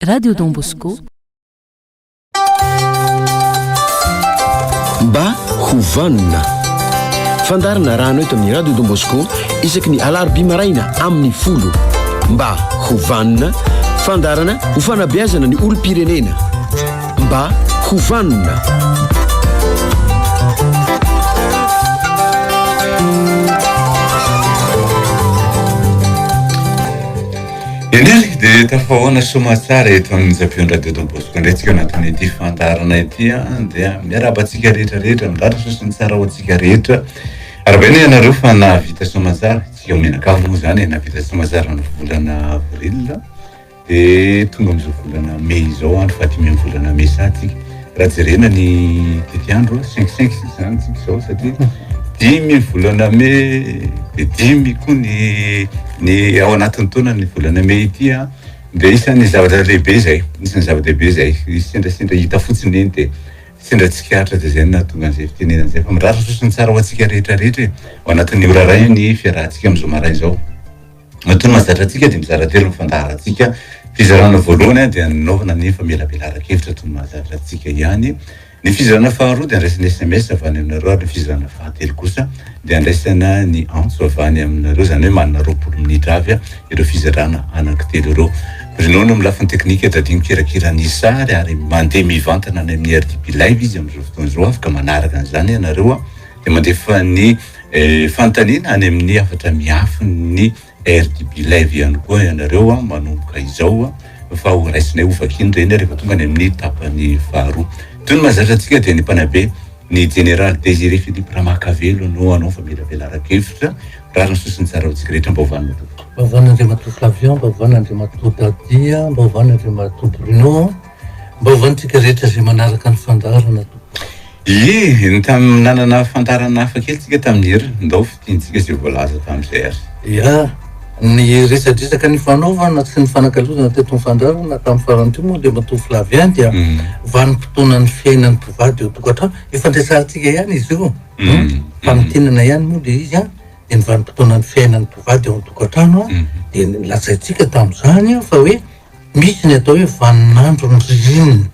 Radio Don Bosco. Mba ho vanona. Fandarina rano eto amin'ny Radio Don Bosco isaky ny alarobia maraina amin'ny folo. Mba ho vanona. Fandarana ho fanabeazana ny olom-pirenena. Mba ho vanona. Eny ary dia tafahoana soamatsara eto amin'ny Zafion Radio Don Bosco indray tsika anatin'ity fandaharana ity an dia miarahaba antsika rehetra rehetra midratra soa sy ny tsara ho antsika rehetra aravaina ianareo fa nahavita soamatsara tsy ao menakavy moa zany e nahavita soamatsara ny volana avril dia tonga amin'izao volana mey izao andro fahadimy amin'ny volana mey satsika Raha jerena ny tetiandro cinq cinq sisa zany isika izao satria dimy volana mey dia dimy koa ny ny ao anatin'ny taona ny volana mey ity a dia isan'ny zavatra lehibe izay isan'ny zava-dehibe izay sendrasendra hita fotsiny eny dia sendra tsikaritra dia izay no nahatonga an'izay fitenenana izay fa mirary sosony tsara ho antsika rehetra rehetra e ao anatin'ny ora iray ny fiarahantsika amin'izao maraina izao Matoa ny mahazatra antsika dia mizara telo ny fandaharantsika. Fizarana voalohany dia ny nanaovana ny famelabelaran-kevitra toy ny mahazatra antsika ihany. Ny fizarana faharoa dia andraisana sms avy any aminareo ary ny fizarana fahatelo kosa dia andraisana ny antso avy any aminareo, izany hoe manana roapolo minitra avy ireo fizarana anankitelo ireo. Bruno no amin'ny lafiny teknika, Daddy mikirakira ny sary ary mandeha mivantana any amin'ny RDP Live izy amin'izao fotoana izao, afaka manaraka an'izany ianareo. dia mandefa ny fanontaniana any amin'ny hafatra miafin'ny RDB Live ihany koa ianareo manomboka izao fa ho raisinay ho vakiny ireny rehefa tonga any amin'ny tapany faharoa. Toy ny mahazatra antsika dia ny mpanabe ny Jeneraly Désiré Philippe Ramakavelo no hanao famelabelaran-kevitra raha ny sosiny tsara ho antsika rehetra. Mba ovanina tompoko. Mba ovanina Andriamatoa Flavien, mba ovanina Andriamatoa Dadia, mba ovanina Andriamatoa Bruno. Mba hovany tsika rehetra zay manaraka ny fandaharana tompoko. Ie, ny tam nanana fandaharana hafa kely tsika tamin'ny hery, ndao fintinitsika zay voalaza tamin'izay ary. Ia, ny resadresaka nifanaovana sy nifanakalozana teto amin'ny fandaharana tamin'ny farany teo moa dia matoa Flavien dia vanim-potoanan'ny fiainan'ny mpivady eo an-tokantrano, efa niresahantsika ihany izy io, fanitinana ihany moa dia izy an, dia ny vanim-potoanan'ny fiainan'ny mpivady eo an-tokantrano an, dia lazaintsika tamin'izany an fa hoe Misy ny atao hoe vaninandron'ny ririnina,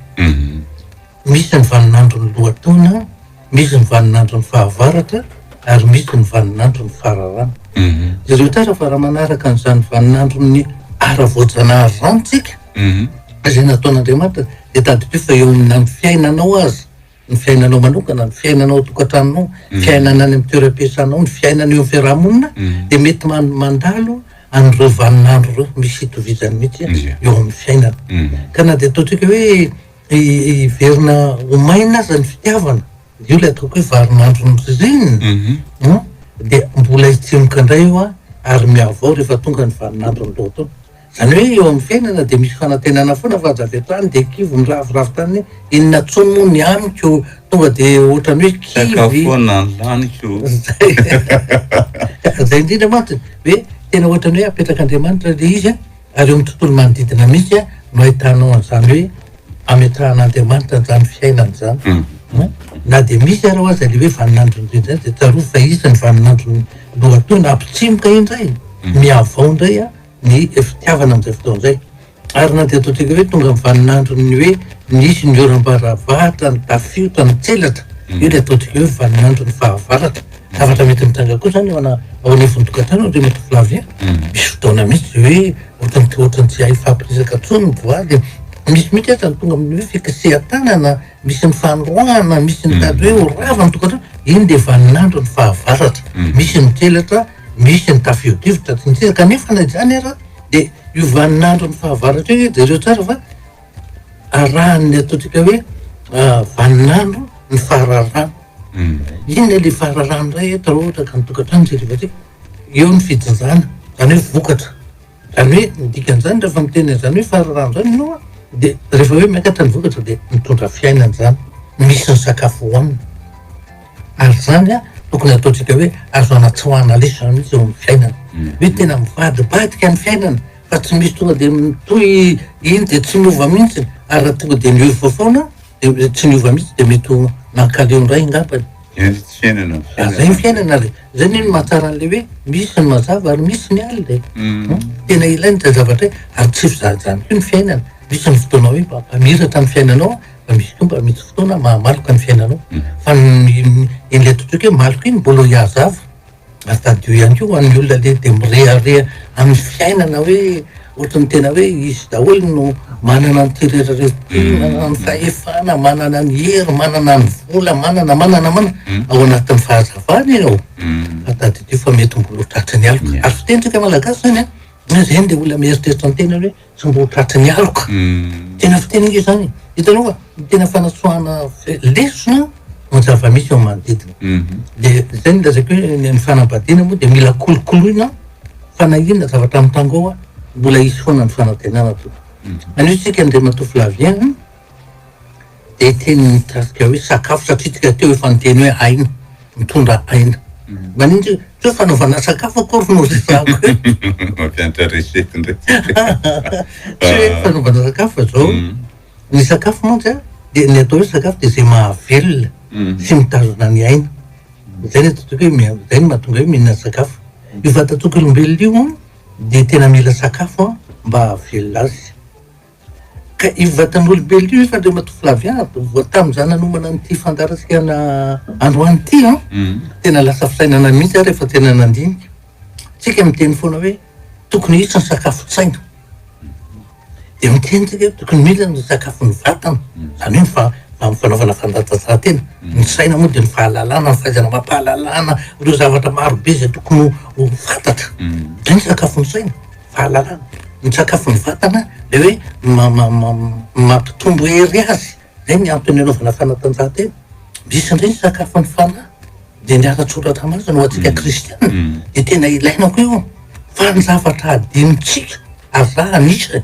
misy ny vaninandron'ny lohataona, misy ny vaninandron'ny fahavaratra ary misy ny vaninandron'ny fararano. Mhm. Jereo tsara fa raha manaraka an'izany vaninandron'ny ara-voajanahary izany isika, mhm. izay nataon'Andriamanitra, dia tadidio fa eo amin'ny fiainanao aza, ny fiainanao manokana, ny fiainana ao an-tokantranonao, ny fiainana any amin'ny toeram-piasanao, ny fiainana eo amin'ny fiarahamonina, dia mety man- mandalo an'ireo vaninandro ireo misy itovizany mihitsy Ie. eo amin'ny fiainana. Ka na dia ataontsika hoe hi- hiverina ho maina aza ny fitiavana, io ilay ataoko hoe varinandron'ny ririnina, an, dia mbola hitsimoka indray io an, ary mihavao rehefa tonga ny vaninandron'ny loto. Izany hoe eo amin'ny fiainana dia misy fanantenana foana fa aza avy hatrany dia kivy miraviravy tany hoe inona intsony moa ny amiko, tonga dia ohatrany hoe kivy. Sakafo foana ny laniko. Izay izay indrindra mantsy hoe tena ohatrany hoe apetrak'Andriamanitra ilay izy an, ary eo amin'ny tontolo manodidina mihitsy no ahitanao an'izany hoe ametrahan'Andriamanitra an'izany fiainana izany. An, na dia misy ary aza ilay hoe vanin'androny indrindra indray dia tsarovy fa iza ny vanin'androny lohatohina, ampitsimoka indray, mihavao indray an. ny fitiavana amin'izay fotoana izay. Ary na dia atao tsika hoe tonga amin'ny vaninandron'ny hoe nisy ny oram-baravahatra nitafio tamin-tselatra, io dia ataontsika hoe vaninandron'ny fahavaratra. Zavatra mety mitranga koa izany ao ana- ao anivon'ny tokantrano ry Maitre Flavien. Misy fotoana mihitsy izay hoe ohatran'ny tsy- ohatran'ny tsy hay hifampiresaka intsony ny voady. Misy mihitsy aza ny tonga amin'ny hoe fikasihan-tanana. misy ny fanoroahana, misy ny tady hoe ho rava ny tokantrano, iny dia vaninandro ny fahavaratra, misy ny tselatra, misy ny tafio-drivotra sy ny sisa kanefa na izany ara dia io vaninandro ny fahavaratra io jereo tsara fa arahan'ny ataontsika hoe vaninandro ny fahararana, iny ilay fahararana indray eto raha ohatra ka ny tokantrano tsy rivatsika, eo ny fijinjana, izany hoe vokatra, Ary hoe ny dikan'izany rehefa miteny an'izany hoe farirano izany ianao an, dia rehefa hoe miakatra ny vokatra dia mitondra fiainana izany, misy ny sakafo hohanina. Ary izany an, tokony hataontsika hoe azo anatsoahana lesona izany mihitsy eo amin'ny fiainana. Hoe tena mivadibadika ny fiainana fa tsy misy tonga dia mitohy iny dia tsy miova mihitsy. Ary raha tonga dia miova foana dia tsy miova mihitsy dia mety ho mankaleo indray angambany. Eto tsy fiainana ny fiainana. Zay ny fiainana le. Zay ny mahatsara an'le hoe misy ny mazava ary misy ny alina e. Tena ilaina izay zavatra izay ary tsy fizahazahana koa ny fiainana. Misy ny fotoana hoe mba mamiratra ny fiainanao fa misy koa mba misy fotoana mahamaloka ny fiainanao. Fa ny ny ny ilay totoky hoe maloka iny mbola ho hiazava. Ary tadidio ihany koa ho an'ny olona le dia mirehareha amin'ny fiainana hoe ohatran'ny tena hoe izy daholo no manana ny terera-reo ty, hmm. manana ny fahefana, manana ny hery, manana ny vola, manana, manana, manana. Hmm. Ao anatin'ny fahazavana ianao. Hmm. Fa tadidio fa mety mbola ho tratry ny aloka. Ary fitentsika malagasy zany a, zay ny le olona mieritreritra ny tena hoe. Tsongo tratry ny aloka. Tena fiteny inge izany e. Hitanao fa ny tena fanatsoahana lesona ny zava-misy ao manodidina. Mhm. Dia izay no lazaiko hoe ny ny fanambadiana moa dia mila kolokoloina fa na inona zavatra mitangoa mbola hisy foana ny fanantenana tompoko. Mhm. Anio isika Andriamatoa Flavien. Dia teny nitarika hoe sakafo satria tsika teo efa niteny hoe aina, mitondra aina. Maninona tsika tsy hoe fanaovana sakafo akory no resahako eto? Mampiantra recette indray tsika. Tsy hoe fanaovana sakafo fa izao, ny sakafo mantsy an, dia ny atao hoe sakafo dia izay mahavelona sy mitazona ny aina. Izay no atantsika hoe miha- izay no mahatonga hoe mihinana sakafo. Io vatantsika olombelona io an, dia tena mila sakafo an, mba hahavelona azy. Ka io vatan'olombelona io, Andriamatoa Flaviado, vao tamin'izaho nanomana an'ity fandaharantsika androany ity an, tena lasa fisainana mihitsy aho rehefa tena nandinika. Isika miteny foana hoe tokony hisy ny sakafon-tsaina. Dia miteny isika hoe tokony mila ny sakafon'ny vatana, izany hoe ny fa- ny fanaovana fanatanjahantena. Ny saina moa dia ny fahalalana, ny fahaizana amam-pahalalana ireo zavatra marobe izay tokony ho ho fantatra. Izay ny sakafon'ny saina. Fahalalana, ny misakafo ny vatana dia hoe mampitombo hery azy, izay ny antony anaovana fanatanjahantena. Misy indray ny sakafo ny fanahy, dia ny ara-tsoratra masina ho antsika kristiana, dia tena ilaina koa io, fa ny zavatra hadinontsika, aza anisany,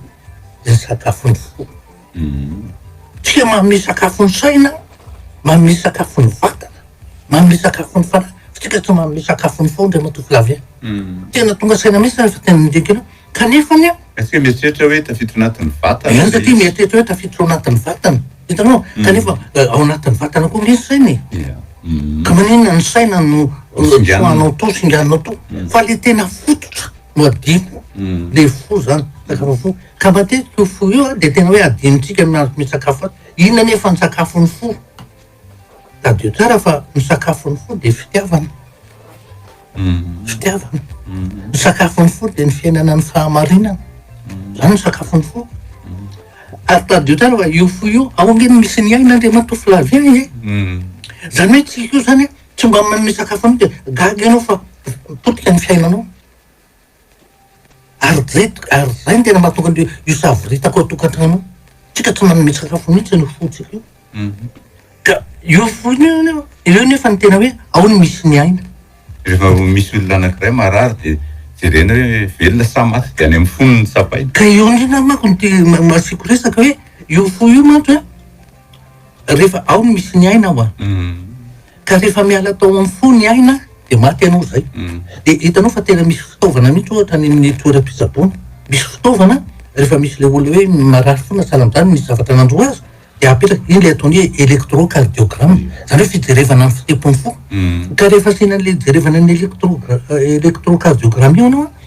dia ny sakafo ny fo. Tsika manome sakafo ny saina an, manome sakafo ny vatana, manome sakafo ny fanahy, fa tsika tsy manome sakafo ny fo Andriamatoa Flavien. Tena tonga saina mihintsy zany fa tena nidika anao. Kanefany an. Ary tsika mieritreritra hoe tafiditra ao anatin'ny vatana ilay izy. Eny satria mieritreritra hoe tafiditra ao anatin'ny vatana. Hitanao? Kanefa ao anatin'ny vatana koa nge ny saina e. Ia. Ka maninona ny saina no tsoahanao to, singaninao to. Fa le tena fototra no adino. Le fo zany, sakafo fo. Ka matetika io fo io dia tena hoe adinontsika ny mahazo misakafo azy. Inona anefa no sakafon'ny fo? Tadidio tsara fa ny sakafon'ny fo dia fitiavana. Fitiavana. Ny sakafon'ny fo dia ny fiainana ny fahamarinana. Izany ny sakafon'ny fo. Ary tadidio tsara fa io fo io, ao ange no misy ny ain'Andriamatoa Flavien e. Izany hoe tsika io izany tsy mba manome sakafo anao dia gaga ianao fa potika ny fiainanao. Ary zay ary zay no tena mahatonga an'io io savoritaka ao an-tokantrano io. Tsika tsy manome sakafo mihitsy ny fontsika io. Ka io fo io io io nefa ny tena hoe ao no misy ny aina. Rehefa misy olona anankiray marary dia jerena hoe velona sa maty dia any amin'ny fony no tsapaina. Ka io indrindra manko no te- ma- asiako resaka hoe io fo io mantsy hoe. rehefa ao no misy ny aina hoa ka rehefa miala tao amin'ny fo ny aina dia maty ianao izay dia hitanao fa tena misy fitaovana mihitsy ohatra any amin'ny toeram-pitsaboana misy fitaovana rehefa misy ilay olona hoe marary fo na sahala amin'izany misy zavatra nandroa azy dia apetraka iny ilay ataony hoe électrocardiogramme izany hoe fijerevana ny fitempon'ny fo ka rehefa asiana an'ilay hijerevana ny électro électrocardiogramme io ianao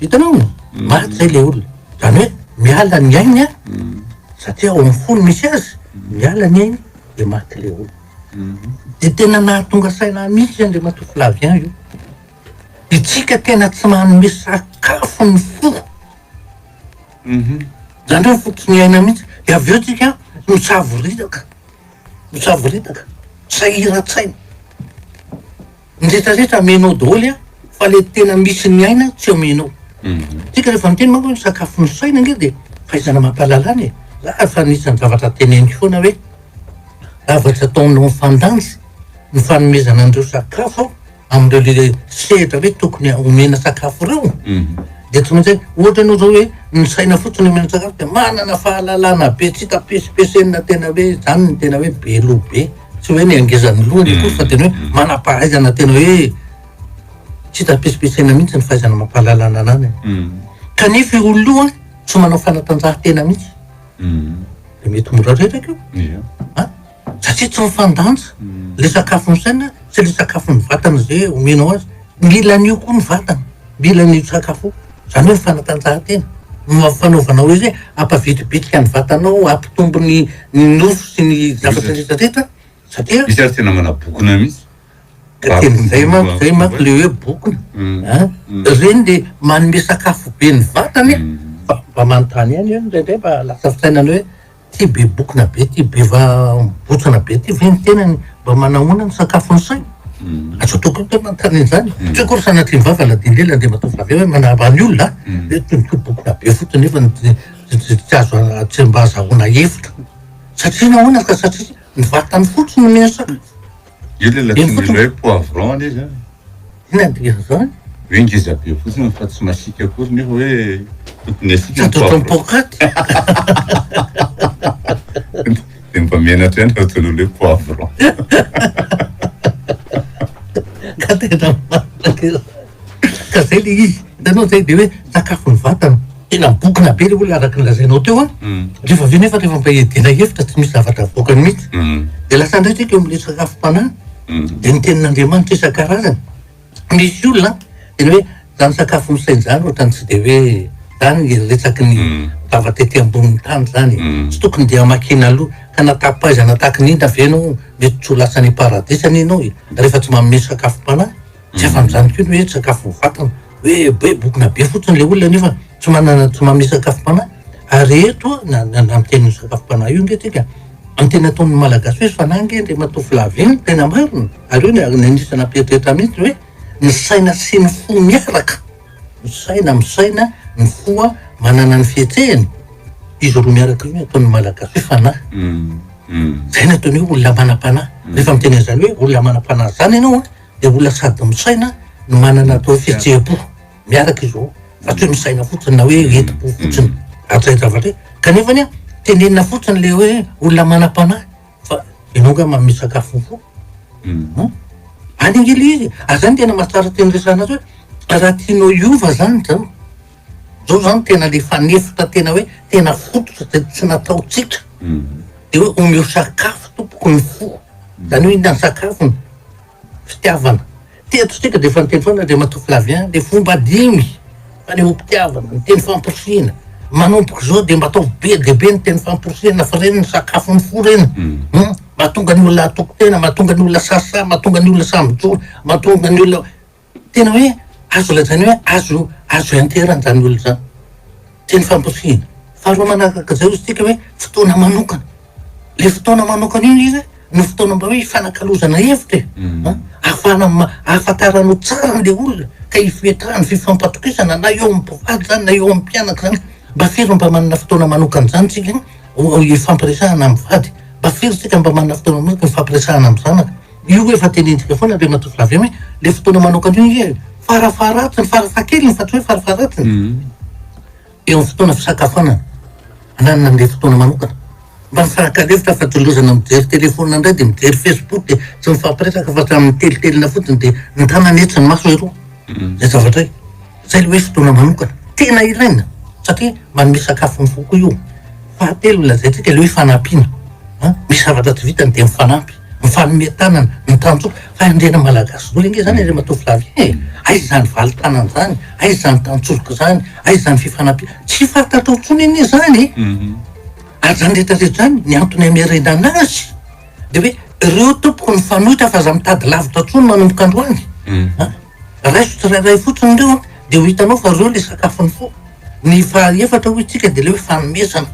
Hitanao? Maty zay le olona. Zany hoe miala ny ainy a, satria ao amin'ny fo no misy azy, miala ny ainy dia maty le olona. Dia tena nahatonga saina ahy mihitsy Andriamatoa Flavien io. Isika tena tsy manome sakafo ny fo. Zany hoe ny fo tsy miaina mihitsy. Dia avy eo tsika misavoritaka, misavoritaka, sahiran-tsaina. Ny rehetra rehetra amenao doholy an, fa le tena misy ny aina tsy amenao. Mhm. Tsika rehefa miteny manko hoe sakafo ny saina nge de fahaizana mampalalana e. Za efa anisan'ny zavatra teneniko foana hoe zavatra ataonao fandanjy ny fanomezana an'ireo sakafo an, amin'ireo le sehatra hoe tokony omena sakafo ireo. Mhm. De tsy maintsy ohatra ianao zao hoe ny saina fotsiny omena sakafo de manana fahalalana be tsy hita pesipesenina tena hoe zany ny tena hoe be loha be. tsy hoe miangezan'ny lohany akory fa tena hoe manam-pahaizana tena hoe tsy hita pitsopitsaina mihitsy ny fahaizana mampahalala ny ananany mm. kanefa io olona io a tsy manao fanatanjahantena mihitsy mm. de mety mora reraka io a satria tsy mifandanja mm. le sakafo ny saina tsy le sakafo ny vatana zay omenao azy mila an'io koa ny vatana Mila ny sakafo, izany hoe ny fanatanjahantena, no fanaovanao hoe izay hampavitribitrika ny vatanao, hampitombo ny ny nofo sy ny zavatra rehetra rehetra satria. Misy ary tena manabokona mihitsy. Ka tena izay manko, izay manko le hoe bokona a! Ireny le manome sakafo be ny vatana e! Fa mba manontany ihany aho indraindray mba lasa fisainana hoe. Ty be bokona be ty be va botsana be ty ve ny tenany mba manahoana ny sakafony saina? Aza atao koa koa manontany an'izany. Tsy hoe akory sanatria ny vava na dinde ilay andeha matoa fa avy eo hoe manaba ny olona a! Hoe toy ny koa bokona be fotsiny nefa ny tsy tsy tsy azo a- tsy mba azahoana hevitra. Satria nahoana ka satria ny vatany fotsiny no mihasakafo. Io le Eny latson'ilay fotsiny. hoe poivron le zany. Inona ny dikan'izany? Hoe ngeza be fotsiny fa tsy masiaka akory nefa hoe tokony asiaka Tsy ny ato ohatran'ny poivron. paokaty. Dia mba menatra ihany raha ataon'olo hoe poivron. Ka tena marina. Ka zay le izy, hitanao zay de hoe sakafon'ny vatana, tena mibokona be le olona araka ny lazainao teo an, rehefa avy eo nefa rehefa mba hiadiana hevitra tsy misy zavatra avoakany mihitsy, de lasa indray tsika eo amin'ny resaka sakafom-panahy, de ny tenin'Andriamanitra isan-karazany, misy olona an, tena hoe zany sakafo misaina zany ohatrany tsy de hoe zany le resaky ny vava tety ambonin'ny tany zany e, tsy tokony de hamakiana aloha, ka na tapaizana tahaka ny inona ve ianao mety tsy ho lasa any am-paradisa anie ianao e, rehefa tsy manome sakafom-panahy. Tsy afa amin'izany koa ny hoe sakafo voafatana. Hoe hoe bokona be fotsiny ilay olona nefa tsy manana tsy manome sakafom-panahy. Ary eto na na na miteny ny sakafom-panahy io ange tsika, ny teny ataon'ny Malagasy hoe fanahy ange Andriamatoa Flavien no tena marina. Ary io no anisany nampieritreritra mihitsy hoe ny saina sy ny fo miaraka. Ny saina misaina, ny fo a manana ny fihetsehany. Izy roa miaraka io no ataon'ny Malagasy hoe fanahy. Izay no ataony hoe olona manam-panahy. Rehefa miteny an'izany hoe olona manam-panahy izany ianao a, dia olona sady misaina no manana atao fihetseham-po miaraka izy roa fa tsy hoe misaina fotsiny na hoe hetim-po fotsiny ary zay zavatra hoe kanefany a tenenina fotsiny le hoe olona manam-panahy fa ianao nga manome sakafo ny fo Mhm. Any angely izy, ary zany tena mahatsara teny resahana azy hoe raha tianao hiova zany zao, Zao zany tena le fanefitra tena hoe tena fototra zay tsy nataontsika de hoe omeo sakafo tompoko ny fo zany hoe inona ny sakafony fitiavana teto isika de efa niteny foana Andriamatoa Flavien le fomba dimy fanehoam-pitiavana ny teny famporisihina manomboka izao de mba ataovy be dia be ny teny famporisihina fa ireny ny sakafo ny fo ireny hum mahatonga ny olona hatoky tena mahatonga ny olona sasa mahatonga ny olona samy mijoro mahatonga ny olona Tena hoe azo lazaina hoe azo azo enterana izany olona izany. Teny famporisihina. Faharoa manaraka izay hozy tsika hoe fotoana manokana. Ilay fotoana manokana io izy no fotoana mba hoe hifanakalozana hevitra e. Mm. Ahafahana ahafantaranao tsara an'ilay olona ka hifoetrahany fifampatokisana na eo amin'ny mpivady izany na eo amin'ny mpianaka izany. Mba firy mba manana fotoana manokana izany tsika hifampiresahana amin'ny vady. Mba firy tsika mba manana fotoana manokana hifampiresahana amin'ny zanaka. Io efa tenentsika foana Andriamatoa Flavien hoe le fotoana manokana io anie farafaharatsiny, farafahakeliny fa tsy hoe farafaharatsiny eo amin'ny fotoana fisakafoanana ananana an'le fotoana manokana mba mifankalefitra fa tsy lozana mijery telefaonina indray dia mijery facebook dia tsy mifampiresaka fa samy mitelitelina fotsiny dia ny tanana etsy ny maso eroa izay zavatra izay. Zay le hoe fotoana manokana tena ilaina satria manome sakafo ny fo koa io. Fahatelo lazaintsika le hoe fanampiana an, misy zavatra tsy vitany de mifanampy, mifanome tanana, mitanjoka, fa ndre ny malagasy dolo ange zany ry matoa Flavien e! aiza zany valitanana zany, aiza zany tanjozoka zany, aiza zany fifanampiana, tsy fantatrao tsony anie zany ary zany rehetra rehetra zany ny antony amerenana azy de hoe reo tompoko ny fanoitra fa za mitady lavitra tsony manomboka androany an. Raiso tsirairay fotsiny ireo an, dia ho hitanao fa ireo ilay sakafon'ny fo. Ny faha efatra hoy isika dia ilay hoe fanomezana.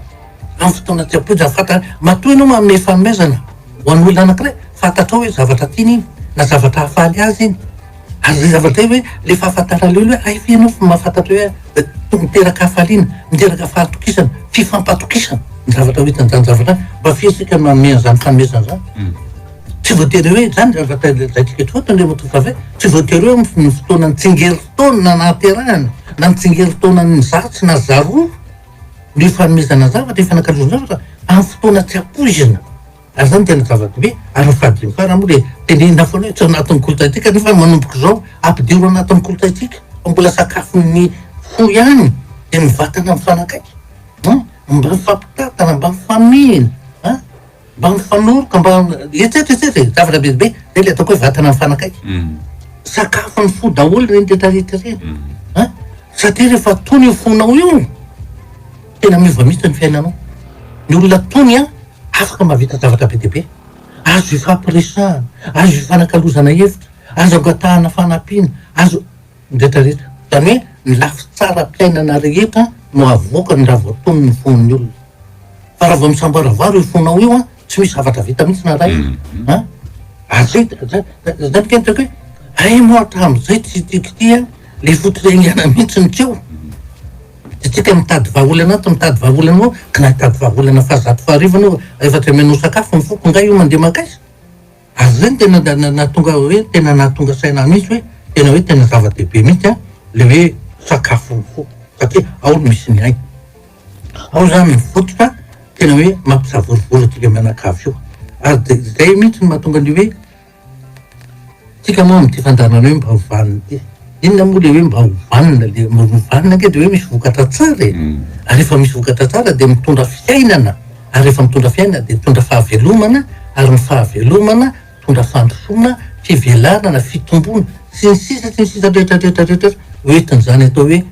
Amin'ny fotoana tsy ampoizina fantatra, matoa ianao manome fanomezana ho an'olona anankiray, fantatrao hoe zavatra tiany iny na zavatra hahafaly azy iny. Ary izay zavatra izay hoe ilay fahafantarana eo ilay hoe hay ve ianao fa mahafantatra hoe eh, miteraka hafaliana, miteraka fahatokisana, fifampatokisana ny zavatra ho hitan'izany zavatra izany. Mba fihesika ny manome an'izany fanomezana izany. Hmm. Tsy voatery hoe izany raha zaitika eto fotsiny ry Rotokafe, tsy voatery hoe amin'ny fotoanan'ny tsingerin-taona nahaterahana na ny tsingerin-taonan'ny zato na zaroa ny fanomezana zavatra, ny fanankalozana zavatra amin'ny fotoana tsy ampoizina. Ary izany tena zava-dehibe. Ary ny fahadimy farany moa dia tenenina foana hoe tsy ao anatin'ny kolontsaintsika nefa manomboka izao ampidiro anatin'ny kolontsaintsika fa mbola sakafon'ny fo ihany dia ny vatana mifanakaiky an, mba mifampitantana, mba mifamihina an. Mba mifanohitra, mba etsy etsy etsy e, zavatra be dia be, zay le ataoko hoe vatana mifanakaiky. Sakafon'ny fo daholo ireny rehetra rehetra ireny an! Satria rehefa tony io fonao io, tena miova mihitsy ny fiainanao. Ny olona tony an, afaka mahavita zavatra be dia be, azo ifampiresahana, azo ifanakalozana hevitra, azo angatahana fanampiana, azo, Retraretra. Zany hoe ny lafy tsaram-piainana rehetra no avoakany raha vao tony ny fon'ny olona. Fa raha vao misamboaravaro io fonao io an, tsy misy zavatra vita mihitsy na iray. An? Ary zay, zay, zay no tena tiako hoe, hay moa hatramin'izay tsy tiako ity an, le fototrengana mihitsy no tsy eo. Dia tsika mitady vahaolana ato, mitady vahaolana ao, ka na hitady vahaolana fahazato faharivo anao, rehefa tsy amenao sakafo ny foko, nga io mandeha mankaiza? Ary izay no tena nahatonga ahy hoe tena nahatonga saina ahy mihitsy hoe tena hoe tena zava-dehibe mihitsy an, ilay hoe sakafo ny fo satria ao no misy ny aina. Ao izany ny fototra tena hoe mampisavorovoro antsika mianakavy io. Ary dia izay mihitsy no mahatonga ny hoe tsika moa amin'ity fandaharana hoe mba ho vanona ity. Inona moa le hoe mba ho vanona le mba ho vanona ange de hoe misy vokatra tsara e! ary rehefa misy vokatra tsara de mitondra fiainana ary rehefa mitondra fiainana de mitondra fahavelomana ary ny fahavelomana mitondra fandrosoana, fivelarana, fitomboana sy ny sisa sy ny sisa rehetra rehetra rehetra rehetra ho entin'izany atao hoe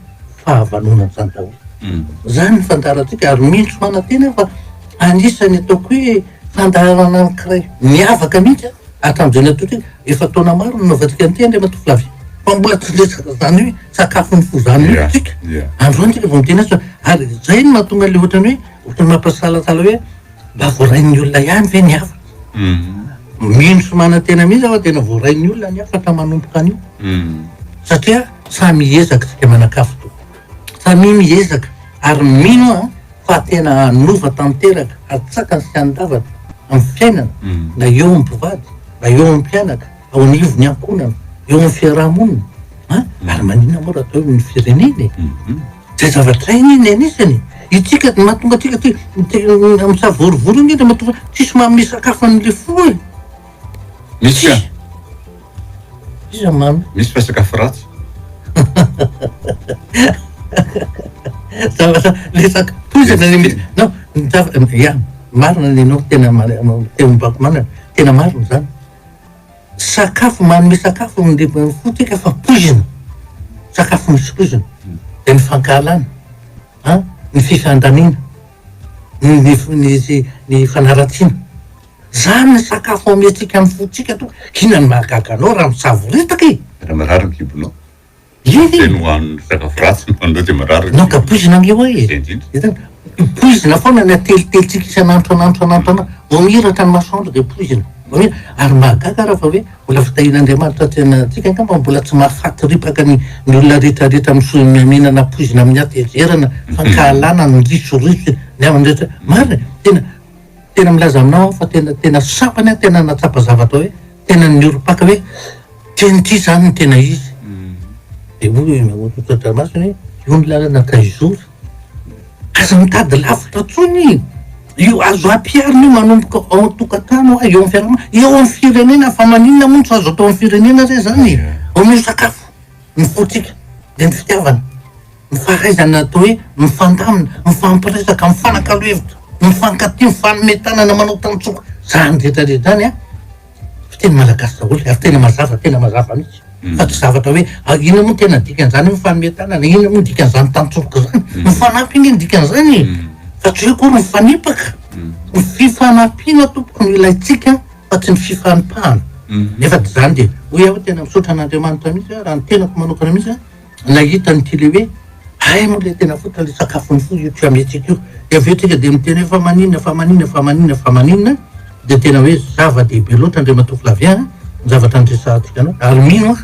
fahavanona izany daholo. Izany ny fandaharantsika ary mino sy manantena aho fa anisan'ny ataoko hoe fandaharana anankiray miavaka mihitsy an! Akanjo eny an-toerana, efa taona maro no nanaovantsika an'ity anie Ramatovovavy. Mpamboaty lesy zany hoe sakafo ny fo zany mihitsy tsika. Androany tsika vao miteny azy fa ary zay no mahatonga le ohatrany hoe ohatrany mampisalasala hoe mba voarain'ny olona ihany ve ny hafa. Mino sy manantena mihitsy aho fa tena voarain'ny olona ny hafa ka manomboka an'io. Satria samy hiezaka isika manan-kafa tokoa. Samia miezaka ary mino aho fa tena hanova tanteraka, hatsakany sy handavany amin'ny fiainana, na eo amin'ny mpivady, na eo amin'ny mpianaka, ao anivon'ny ankohonana, eo amin'ny fiaraha-monina, an, ary maninona moa raha atao hoe ny firenena e? Izay zavatra izay anie ny anisany e! Isika no mahatonga antsika te, te, misavorovoro anie dia mahatonga, tsisy manome sakafo an'ilay fo e! Misy Iza mamy? Misy fa sakafo ratsy. Zavatra lesaka poizina ny mihitsy. Non, ya marina ny anao tena teo mibaiko marina, tena marina izany. Sakafo manome sakafo ny fo tsika fa poizina, sakafo misy poizina. Dia ny fankahalana an, ny fifandaniana, ny ny ny fanaratsiana. Zany ny sakafo omentsika ny fontsika to inona no mahagaga anao raha misavoritaka e! Tena marary ny kibonao. Iny e! Tena hohanin'ny sakafo ratsy no hohaninao dia marary ny kibonao. Naka poizina ange ho'a e! Hitany? Poizina foana ny atelitelitsika isan'andro isan'andro isan'andro isan'andro. Vao mihiratra ny masoandro dia poizina. Vao mihira. Ary mahagaga raha fa hoe mbola fitahian'Andriamanitra aty amintsika angamba mbola tsy mahafaty ripaka ny ny olona rehetra rehetra miso- mihinana poizina amin'ny hatezerana, fankahalana, ny risoriso, ny havany rehetra. Marina e! Tena. Tena milaza aminao aho fa tena tena sambany aho tena nahatsapa zavatra hoe tena niorim-paka hoe tena ity izany no tena izy. Mm. Dia hoy i Mamoto Todramasina hoe io ny lalana Kaizora. Aza mitady lavitra intsony e. Io azo ampiharina io manomboka ao an-tokantrano eo amin'ny fiarahamonina, eo amin'ny firenena fa maninona moa tsy azo atao amin'ny firenena re izany e. Omeo sakafo ny fontsika dia ny fitiavana. Ny fahaizana atao hoe mifandamina, mifampiresaka, mifanakalo hevitra, mifankatia, mifanome tanana, manao tantsoko, zany retraretra zany an, fiteny malagasy daholo ary tena mazava, tena mazava mihitsy fa tsy zavatra hoe inona moa tena dikan'izany hoe mifanome tanana, inona moa ny dikan'izany tantsoroka izany, mifanampy ange ny dikan'izany e! fa tsy hoe akory mifanipaka, ny fifanampiana tompoko no ilaintsika fa tsy ny fifanipahana, nefa tsy izany dia hoy aho tena misaotra an'Andriamanitra mihitsy aho raha ny tenako manokana mihitsy an, Nahita an'ity le hoe ay moa le tena fotony le sakafony fo io siametsika io. De avy eo tsika de miteny hoe fa maninona fa maninona fa maninona fa maninona de tena hoe zava-dehibe loatra Andriamatoa Flavien ny zavatra niresahantsika anao ary mino aho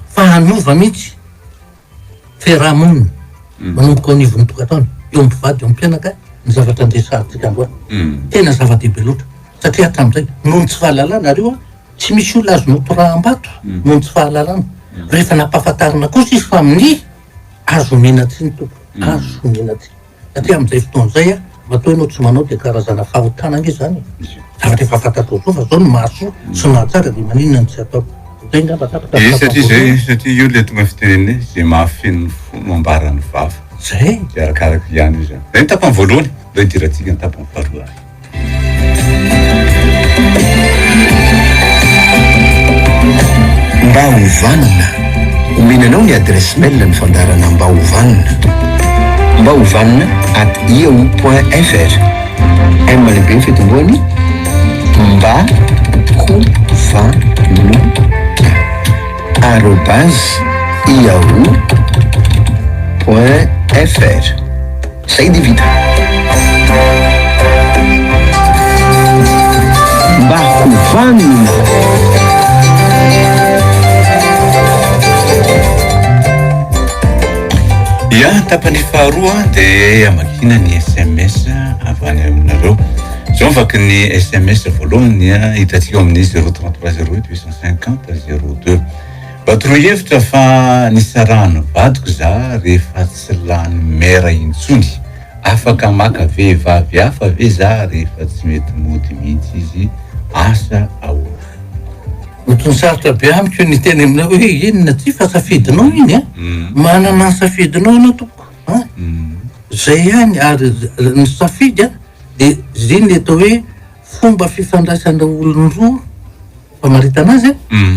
fa hanova mihitsy fiarahamonina manomboka ao anivon'ny tokantrano eo amin'ny mpivady eo amin'ny mpianaka ny zavatra niresahantsika androany. Tena zava-dehibe loatra satria hatramin'izay noho ny tsy fahalalana ary io Tsy misy olona azo notoraham-bato noho ny tsy fahalalana. Rehefa nampahafantarina kosa izy fa minia, azo omena tsiny tompoko, azo omena tsiny. Satria amin'izay fotoana izay, matoa ianao tsy manao dia karazana fahotana ange izany e. Zavatra efa fantatrao izao fa izao ny mahasoa sy ny mahatsara dia maninona no tsy atao. Izay angamba tapitra ny fahafaham-boloina. Ie, satria izay, satria io ilay tonga fitenenana hoe izay mahafeno ny fo no ambaran'ny vava. Izay. Dia arakaraka ihany io izany. Izay ny tapany voalohany. Aleo hidiratsika ny tapany faharoa ary. Mba ho vanona. Omena anao ny adresse mail ny fandaharana Mba ho vanona. Mba ho vanona at yahoo point fr. M lehibe ny fitomboany, Mba ho vanona arobase yahoo point fr. Zay dia vita. Mba hovanona. Ya, tapany faharoa dia amakiana ny sms avy any aminareo. Zao ny vaky ny sms voalohany hitantsika ao amin'ny 033 08 850 02. Mba toroy hevitra fa nisarahan'ny vadiko za rehefa tsy lany mère intsony. Afaka maka vehivavy hafa ve za rehefa tsy mety mody mihitsy izy? Asa ahoana? Ohatran'ny sarotra be amiko ny hiteny aminao hoe inona ty fa safidinao iny a! Manana ny safidinao ianao tompoko a! Zay ihany ary ny safidy a de zay ny atao hoe. fomba fifandraisan'ireo olon-droa famaritana azy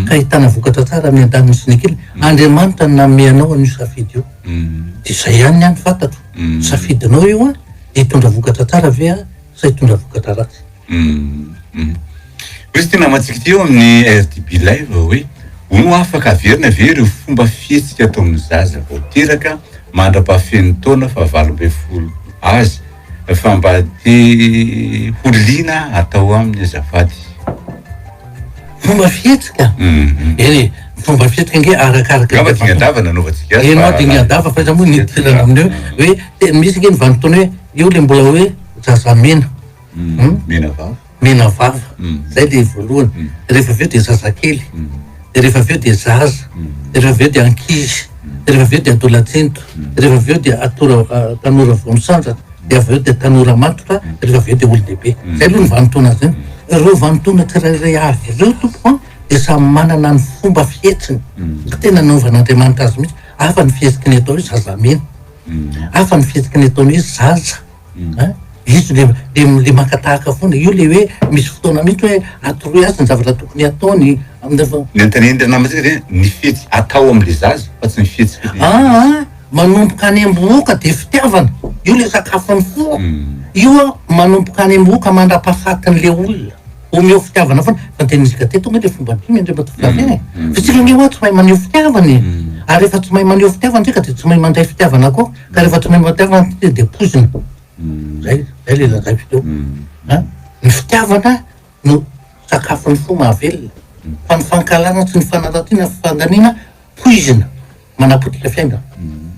ka ahitana vokatra tsara ny an-daniny sy ny ankilany. Andriamanitra no nanome anao an'io safidy io. Dia izay ihany ny ahy no fantatro. Safidinao io an, dia hitondra vokatra tsara ve aho sa hitondra vokatra ratsy? Hoe ity namantsika ity eo amin'ny RDB Live hoe, Hono afaka averina ve ireo fomba fihetsika ataon'ny zaza vao teraka mandra-pahafen'ny taona fahavalo ambin'ny folo azy? Fa mba te ho liana atao aminy azafady. Fomba fihetsika? Eny e, fomba fihetsika ange arakaraka. Angamba dingan-dava nanaovantsika azy. Ianao dingan-dava fa izaho moa nidirana amin'io hoe misy ange ny vanim-potoana hoe io ilay mbola hoe zazamena. Menavava. mena vava, zay dia voalohany, de rehefa avy eo dia zazakely, de rehefa avy eo dia zaza, de rehefa avy eo dia ankizy, de rehefa avy eo dia adolatsento, de rehefa avy eo dia atora tanora vao misandratra, de avy eo dia tanora matotra, de rehefa avy eo dia olon-dehibe. Zay aloha ny vanintaona azy an. Ireo vanintaona tsirairay avy ireo tompoko an dia samy manana ny fomba fihetsiny, fa tena nanaovan'Andriamanitra azy mihitsy, hafa ny fihetsiky ny atao hoe zazamena, hafa ny fihetsiky ny ataony hoe zaza. An, juste le le maka tahaka foana, io le hoe misy fotoana mihitsy hoe atoroy azy ny zavatra tokony ataony, Ny anontanian'ny ray namantsika dia ny fihetsika atao amin'ilay zaza fa tsy ny fihetsika le izy. Aa manomboka any am-bohoka dia fitiavana, io le sakafon'ny fo, io an manomboka any am-bohoka mandra-pahafatin'ilay olona. omeo fitiavana foana fa de nisy gate tonga de fomba mpino indray mba tovolahy tena e fa isika anie hoa tsy mahay maneho fitiavana e ary rehefa tsy mahay maneho fitiavana ntsika de tsy mahay mandray fitiavana koa ka rehefa tsy mahay mandray fitiavana ntsika de poizina zay zay le lazaiko teo a ny fitiavana no sakafon'ny fo mahavelona fa ny fankahalana tsy ny fanaratiana fandaniana poizina manapotika fiainana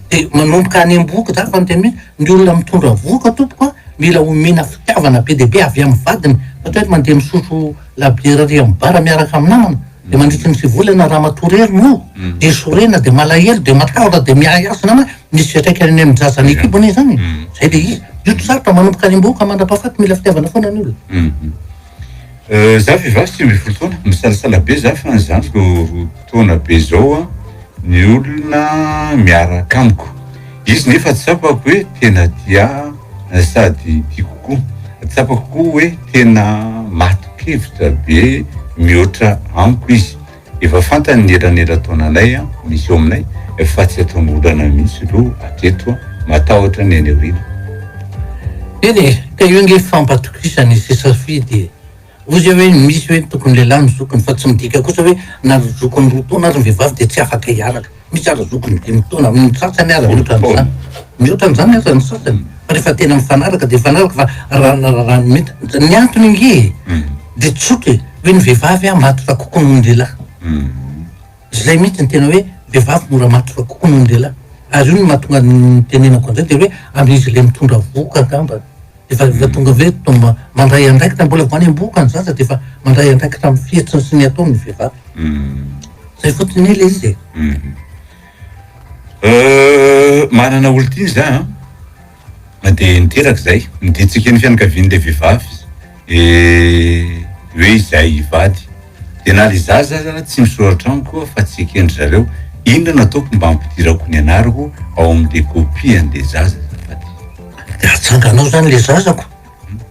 de manomboka any ambohoka zany fa miteny hoe ny olona mitondra vohoka tompoko a mila omena fitiavana be dia be avy amin'ny vadiny ohatra hoe mandeha misotro labiera ary amin'ny bara miaraka amin'ny namana de mandritry ny sivy volana ramatoa irery no de sorena de malahelo de matahotra de miahiahy namana misy fiantraikany any amin'ny zaza any an-kibony zany e zay le izy, io tsy sarotra manomboka any ambohoka mandra-pahafaty mila fitiavana foana ny olona. Za vehivavy sivy ambin'ny folo taona, misalasala be za fa ny zandriko roa taona be zao an, ny olona miaraka amiko, izy nefa tsapako hoe tena tia ahy sady tiako koa, tsapako koa hoe tena matin-kevitra be mihoatra amiko izy. Efa fantany ny eranera-taonanay misy eo aminay fa tsy ataony olana mihitsy lo hatreto, matahotra ny any aoriana. Eny e, ka io ange fampatokisana e, sy safidy e. Ozy aho hoe misy hoe tokony lehilahy ny zokiny fa tsy midika kosa hoe na zokiny roa taona ary ny vehivavy dia tsy afaka hiaraka. Mitsara zoky ny dimy taona amin'ny sasany ary mihoatra an'izany. Mihoatra an'izany aza ny sasany fa rehefa tena mifanaraka dia mifanaraka fa raha ny raharaha ny mety. Ny antony ange e, dia tsotra e, hoe ny vehivavy an matotra kokoa noho ny lehilahy. Izay mihitsy ny tena hoe vehivavy mora matotra kokoa noho ny lehilahy. Ary io no mahatonga ny nitenenako an'izay dia hoe amin'izy ilay mitondra vohoka angamba. Efa efa tonga ve to mba mandray andraikitra mbola vao any am-bohoka ny zaza dia efa mandray andraikitra amin'ny fihetsiny sy ny ataony ny vehivavy. Izay fotsiny ilay izy e. Manana olon-tiany za an. Na dia niteraka izay, miditsika ny fianakavian'ilay vehivavy izy. Hoe izay hivady. Dia na ry zaza aza tsy misoratra amiko aho fa tsy eken-dry zareo, inona no ataoko mba hampidirako ny anarako ao amin'ilay kopia an'ilay zaza azafady? Dia atsanganao izany ilay zazako,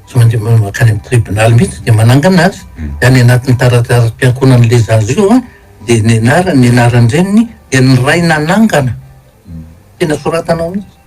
tsy mandeha mankany amin'ny tribonaly mihitsy dia manangana azy, dia any anatin'ny tarataram-piankonan'ilay zaza io dia ny anarany, ny anaran-dreniny dia ny ray nanangana, tena soratanao mihitsy.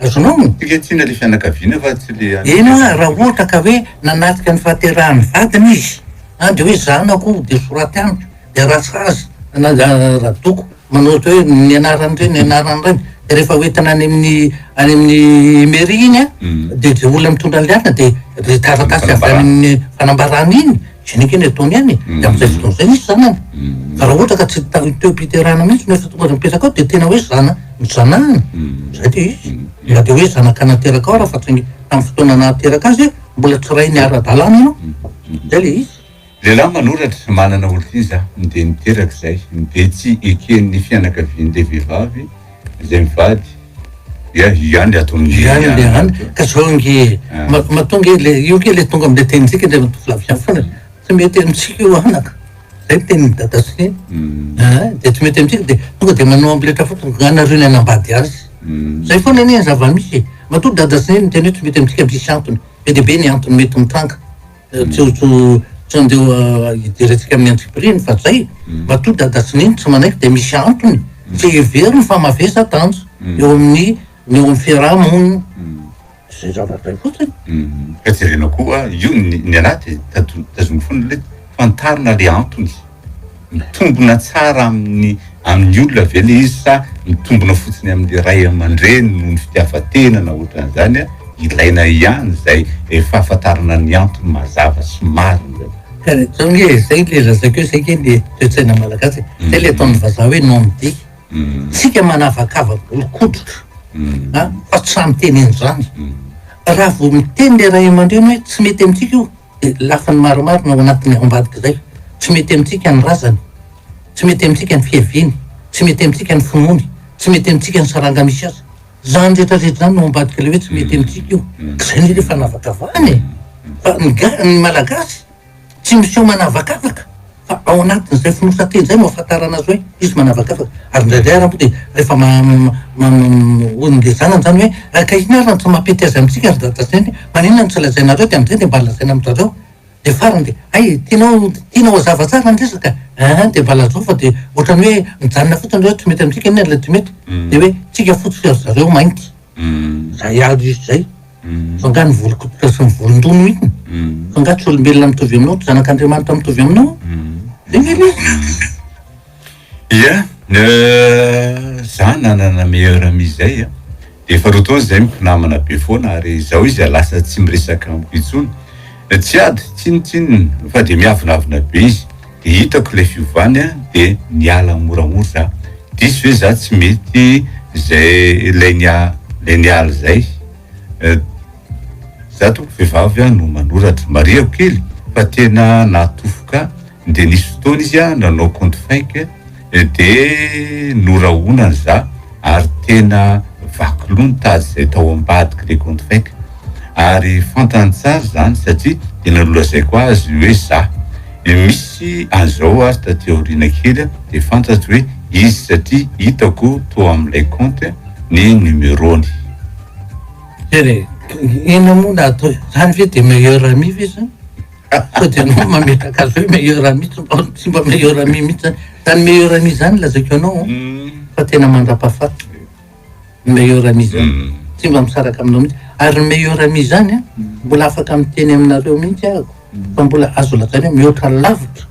Azonao ny tika tsy ilay fianakaviana fa tsy ilay any. Eny hoa raha ohatra ka hoe nanatrika ny fahaterahan'ny vadiny izy an dia hoe zanako dia soraty amiko dia raha sazy radoko manao ohatra hoe ny anaran'ny reny ny anaran'ny reny dia rehefa hoentina any amin'ny any amin'ny mairie iny an dia izay olona mitondra an'ilay asa dia ilay taratasy avy any amin'ny fanambarana iny Tsy nikena i Tony any e, tamin'izay fotoana izay nisy zanany. Fa raha ohatra ka tsy tao teom-piterahana mihitsy no efa tonga aza mipetraka ao dia tena hoe zana, nijanahana. Izay dia izy. Na dia hoe zanaka nateraka ao raha fa saingy tamin'ny fotoana nahateraka azy mbola tsy rainy ara-dalàna ianao. Izay ilay izy. Lehilahy manoratra, manana olon-kiza, dia niteraka izay. Dia tsy eken'ny fianakavian'ilay vehivavy. Izay mivady dia hiany ato amin'ny hiany le any ka zao nge matoa nge le io nge le tonga amle tenintsika le mitovilaviany foana tsy mety amintsika io anaka zay tenin'i dada sy de tsy mety amintsika de tonga de manao ampiletra fotsiny ka anareo ny hanambady azy zay foana anie ny zava-misy e matoa dada sy neny miteny hoe tsy mety amintsika misy antony be dia be ny antony mety mitranga Tsojo tsy andeho hidirantsika amin'ny antsipiriany fa zay. Matoa dada sy neny tsy manaiky dia misy antony. Tsy heveriny fa mavesa danja eo amin'ny ny eo amin'ny fiaraha monina. Zay zava-dray fotsiny. Ka jerena koa io ny ny anaty, tazominy foana le fantarina le antony. Mitombina tsara amin'ny amin'ny olona ve le izy sa mitombina fotsiny amin'ny ray aman-dreny noho ny fitiavan-tena na ohatran'izany a? Ilaina ihany izay eh, fahafantarana ny antony mazava sy marina zany. Zao nge zay le lazaiko eo, zay nge le toetsaina malagasy e, zay le ataon'ny vazaha hoe non dit, tsika manavakavaka olon-koditra a, fa tsy samy teny an'izany, raha vao miteny le ray aman-dreny hoe tsy mety amintsika io, Ny lafiny maromaro no ao anatin'izay ao ambadika izay, tsy mety amintsika ny razany, tsy mety amintsika ny fiaviany, tsy mety amintsika ny finoany, tsy mety amintsika ny saranga misy azy. Izany rehetra rehetra izany no ao ambadika ilay hoe tsy mety amintsika io. Ka izay indrindra fanavakavahana e! Fa ny ga, ny malagasy tsy miseho manavakavaka. Fa ao anatin'izay fonosan-teny izay no ahafantarana azy hoe izy manavakavaka. Ary indraindray ary dia rehefa hoy ny zanany izany hoe, Raika inona ary no tsy mampety azy amintsika ry dadasainy? Maninona no tsy lazainareo dia amin'izay dia mba lazaina amin-dry zareo. Dia farany dia, Hay e, tianao, tianao hazava tsara ny resaka e! Aa dia mba lazao fa dia ohatran'ny hoe mijanona fotsiny hoe tsy mety amintsika inona ilay tsy mety? Dia hoe, tsika fotsy ry zareo mainty. Zay avy izy zay. Fa nga ny volon-koditra sy ny volon-doha iny? Fa nga tsy olombelona mitovy aminao, tsy zanak'Andriamanitra mitovy aminao? Velively. Ia, za nanana meilleur amie zay a, efa roa taona zay mpinamana be foana ary zao izy lasa tsy miresaka amiko intsony, tsy ady, tsinotsinona fa de miavonavona be izy. de hitako ilay fiovany a de niala moramora za, diso ve za tsy mety zay ilay nia lay niala zay eh, za tompoko vehivavy a no manoratra, marihako kely fa tena nahatofoka de nisy fotoana izy a nanao compte fake, ED, Norahona ny za ary tena vaky loha ny tady izay tao ambadik'i Lecontrec. Ary fantany tsara izany satria tena nolazaiko azy hoe za. Misy an'izao ary taty aoriana kely dia fantatro hoe izy satria hitako tao amin'ilay compte ny numerony. Jerry, Inona moa no atao e? Izany ve dia meilleur ami ve izany? Sao dia anao mametraka azy hoe meilleur ami tsy mba tsy mba meilleur ami mihitsy zany. Zany meilleur ami zany lazaiko anao an, fa tena mandrapahafaty ny meilleur ami zany. Tsy mba misaraka aminao mihitsy. Ary ny meilleur ami zany an, mbola afaka miteny aminareo mihitsy ahako fa mbola azo lazaina hoe mihoatra lavitra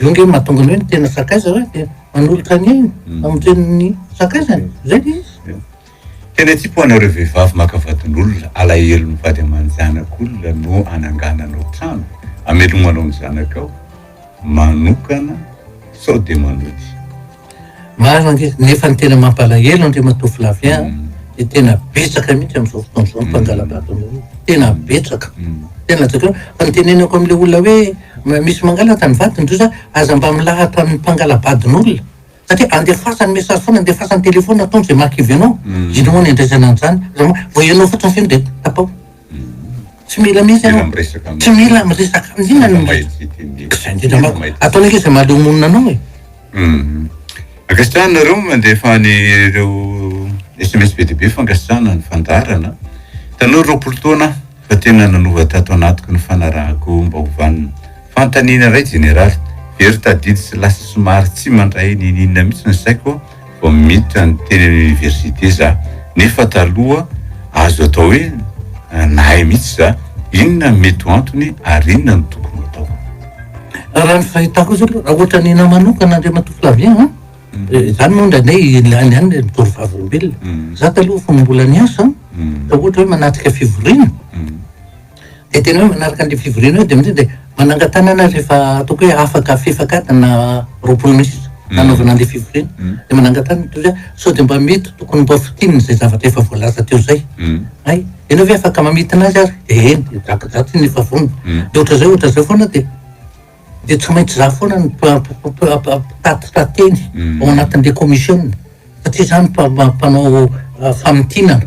Zay nge mahatonga ny hoe ny tena sakaiza hoe dia manolotra ny ainy mm. amonjeny ny sakaizany zay le izy tena tsy po anareo vehivavy maka vadin'olona alahelo ny vady aman-janaka olona no anangananao trano amelomanao ny zanakao manokana sao dia manoty Marina ange, nefa ny tena mampalahelo Andriamatoa Flavien an, dia tena betsaka mihitsy amin'izao fotoana izao ny mpangala-bato anao io, tena betsaka, tena jereo, fa ny tenenako amin'ilay olona hoe mba misy mangalatra ny vadiny ndry za, aza mba milahatra amin'ny mpangala-badin'olona, satria andefasany message foana, andefasany téléphone, ataony izay maha-kivy anao, inona moa ny andraisana an'izany, aza ma, vao ianao fotsiny feno dia tapao. Tsy mila mihitsy ianao. Tsy mila miresaka amin' inona na inona. Izay indrindra manko. Ataony anie izay mahaleo monina anao e. Ankasitrahana nareo mandefa an ireo sms be dia be fankasitrahana ny fandaharana. Tanora roapolo taona aho fa tena nanova tato anatiko ny fanarahako mba ho vanona. Fanontaniana iray jeneraly, very tadidy sy lasa somary tsy mandray n'ininona mihitsy ny saiko. Vao miditra ny teny amin'ny université za nefa taloha azo atao hoe nahay mihitsy za inona no mety ho antony ary inona no tokony ho atao. Raha ny fahitako azy aloha raha ohatra ny anao manokana Andriamatoa Flavien an, izany moa indraindray ilàny ihany ilay mitory vavolombelona. Za taloha fony mbola niasa an, raha ohatra hoe manatrika fivoriana, Dia tena hoe manaraka an'ilay fivoriana eo dia amin'izay dia manangan-tanana azy rehefa ataoko hoe afaka fefak'adina roapolo minitra mm. nanaovana an'ilay fivoriana. Mm. Dia manangan-tanana toy izay sao dia mba mety tokony mba fotinina izay zavatra efa voalaza teo izay. Mm. Hay, ianao ve afaka mamintina azy ary? Dia eny, dia drakadratsy iny efa vonona. Dia ohatra izay, ohatra izay foana dia dia tsy maintsy za foana ny mpitatitra teny ao anatin'ilay komisiona satria za ny mpanao ah, famintinana.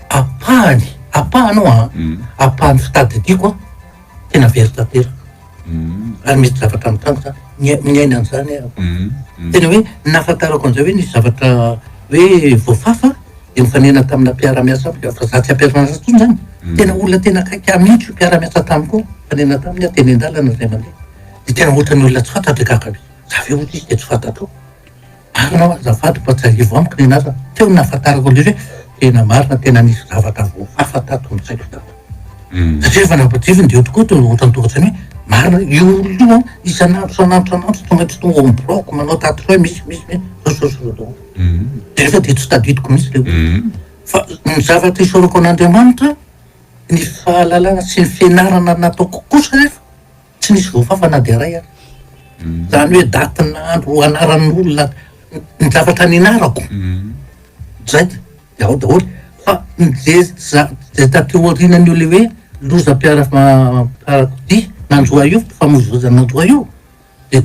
Ampahany, ampahany io an, ampahany fitadidiako an, tena very tanteraka, ary misy zavatra mitranga zany, mia- miaina an'izany aho. Tena hoe ny nahafantarako an'izay hoe nisy zavatra hoe voafafa dia nifanena tamina mpiara-miasa amiko aho, fa za tsy am-piara-miasa intsony zany, tena olona tena akaiky ahy mihitsy io mpiara-miasa tamiko io, nifanena taminy aho teny an-dalana indray mandeha, dia tena ohatran'ny olona tsy fantatro dia gaga be, za ve ohatry izy dia tsy fantatrao? Anao azafady mba tsiahivo amiko ny anarany, teo no nahafantarako indrindra hoe tena marina tena nisy zavatra voafafa tato an-tsaiko tato. Satria rehefa nampiadiviny dia eo tokoa dia ohatran'ny tonga saina hoe marina ve? Io olona io an, isan'andro isan'andro isan'andro tsy tonga tsy tonga ao am-biraoko manao tatouage misy misy misy zao zao zao zao. Dia nefa dia tsy tadidiko mihitsy le olona. Fa ny zavatra isaorako an'Andriamanitra ny fahalalana sy ny fianarana nataoko kosa anefa Tsy nisy voafafa na dia iray ary. Izany hoe date na andro anaran'olona ny zavatra nianarako. Izay dia ao daholo. Fa ny ze za- izay taty aorianan'io le hoe lozam-piara- fiarakodia nanjo ahy io, fifamoivoizana nanjo ahy io dia.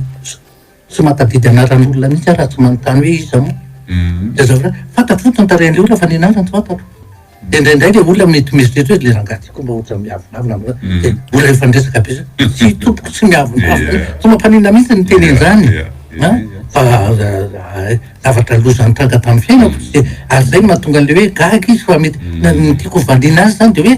Tsy mahatadidy anaran'olona mihitsy aho raha tsy manontany hoe iza moa? Dia zao indray, fantatro fotsiny ny tarehin'ilay olona fa ny anarany tsy fantatro. Dia indraindray ilay olona mety mieritreritra hoe ilay rangahy ty koa mba ohatrany miavonavona na dia mbola efa niresaka be zany. Tsy tompoko, tsy miavonavona. Tsy mampaninona mihitsy ny miteny an'izany a! Fa zavatra loza nitranga tamin'ny fiainako. Ary izay no mahatonga an'ilay hoe gaga izy fa mety, ny tiako hovaliana azy izany dia hoe,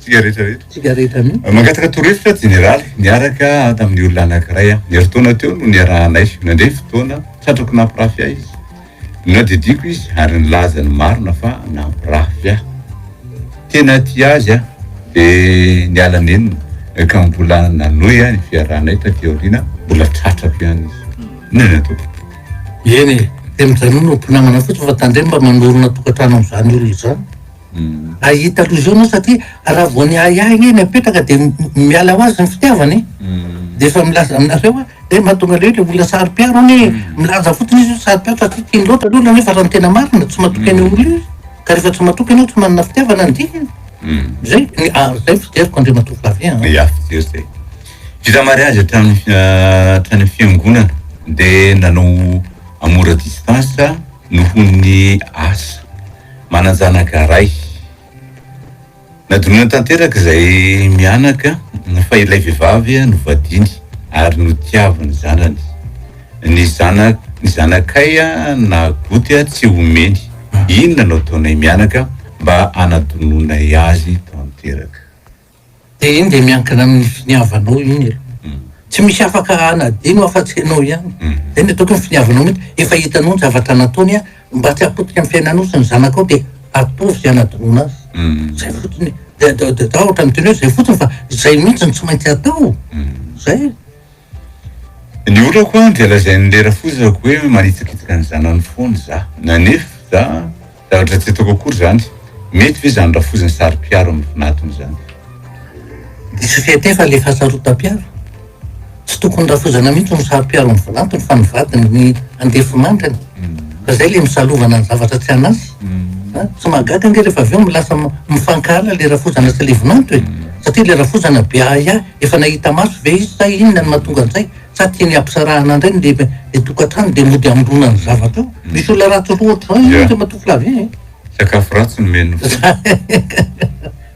Tsikaritra ry. Tsikaritra ry. Mangataka torohevitra Jeneraly, niaraka tamin'ny olona anankiray aho. Ny herintaona teo no niarahanay. Nandre fotoana, tratrako nampirafy ahy izy. Nodidiako izy ary nilaza ny marina fa nampirafy ahy. Tena tia azy aho. Dia niala nenina, ka mbola nanohy ny fiarahanay taty aoriana, mbola tratrako ihany izy. Inona no ataoko? Eny e, dia mijanona ho mpinamana fotsiny fa tandremo mba manorina tokantrano amin'izany olona izany. Hahita aloha izao ianao satria raha vao niahiahy anie ny apetraka dia miala ho azy ny fitiavana e. Dia efa milaza aminareo hoe dia mba tonga leo ilay olona saropiaro anie e. Milaza fotsiny izy hoe saropiaro satria tiany loatra ny olona nefa raha ny tena marina tsy matoky an'io olona io izy. Ka rehefa tsy matoky ianao tsy manana fitiavana ny dikany. Izay, ary izay fijeriko Andriamatoa Flavien a. Ia, fijery izay. Vita mariazy hatrany hatrany amin'ny fiangonana dia nanao amour à distance. Nohon'ny asa, manan-janaka iray. Nadinoina tanteraka izay mianaka fa ilay vehivavy novadiany ary notiaviny zanany. Ny zanak ny zanakay na goty tsy omeny. Inona no ataonay mianaka mba hanadinoinay azy tanteraka? Dia iny dia miankina amin'ny finiavanao iny e. Tsy misy afaka hanadino afa-tsy ianao ihany. Izay no ataoko hoe ny finiavanao mihitsy. Efa hitanao ny zavatra nataony an, mba tsy hapotika amin'ny fiainanao sy ny zanakao dia ataovy izay hanadinoana azy. Izay fotsiny e. Dia za ohatran'ny miteny hoe izay fotsiny fa izay mihitsy no tsy maintsy atao. Izay e. Ny olako an dia lazain'i lera fozako hoe manitsakitsaka ny zanany foana za. Nanefa za zavatra tsy ataoko akory zany. Mety ve zany rafozan'ny saro-piaro amin'ny vinatony zany. Diso fihete fa le fahasarotam-piaro. Tsy tokony rafozana mihitsy ny saro-piaro amin'ny vinatony fa ny vadiny ny andefimandrany. Fa zay le misalovana ny zavatra tsy an'asy a! Tsy mahagaga ange rehefa avy eo milasa mifankahala le rafozana sy le vinanto e! Satria le rafozana be ahiahy efa nahita maso ve izy sa inona no mahatonga an'izay? Sa tiany hampisarahana ndray ny le tokantrano de mody hamorona ny zavatra ao? Misy olona ratsy roa ohatr'izao anie Andriamatoa Flavien e! Sakafo ratsy nomeny ny fo.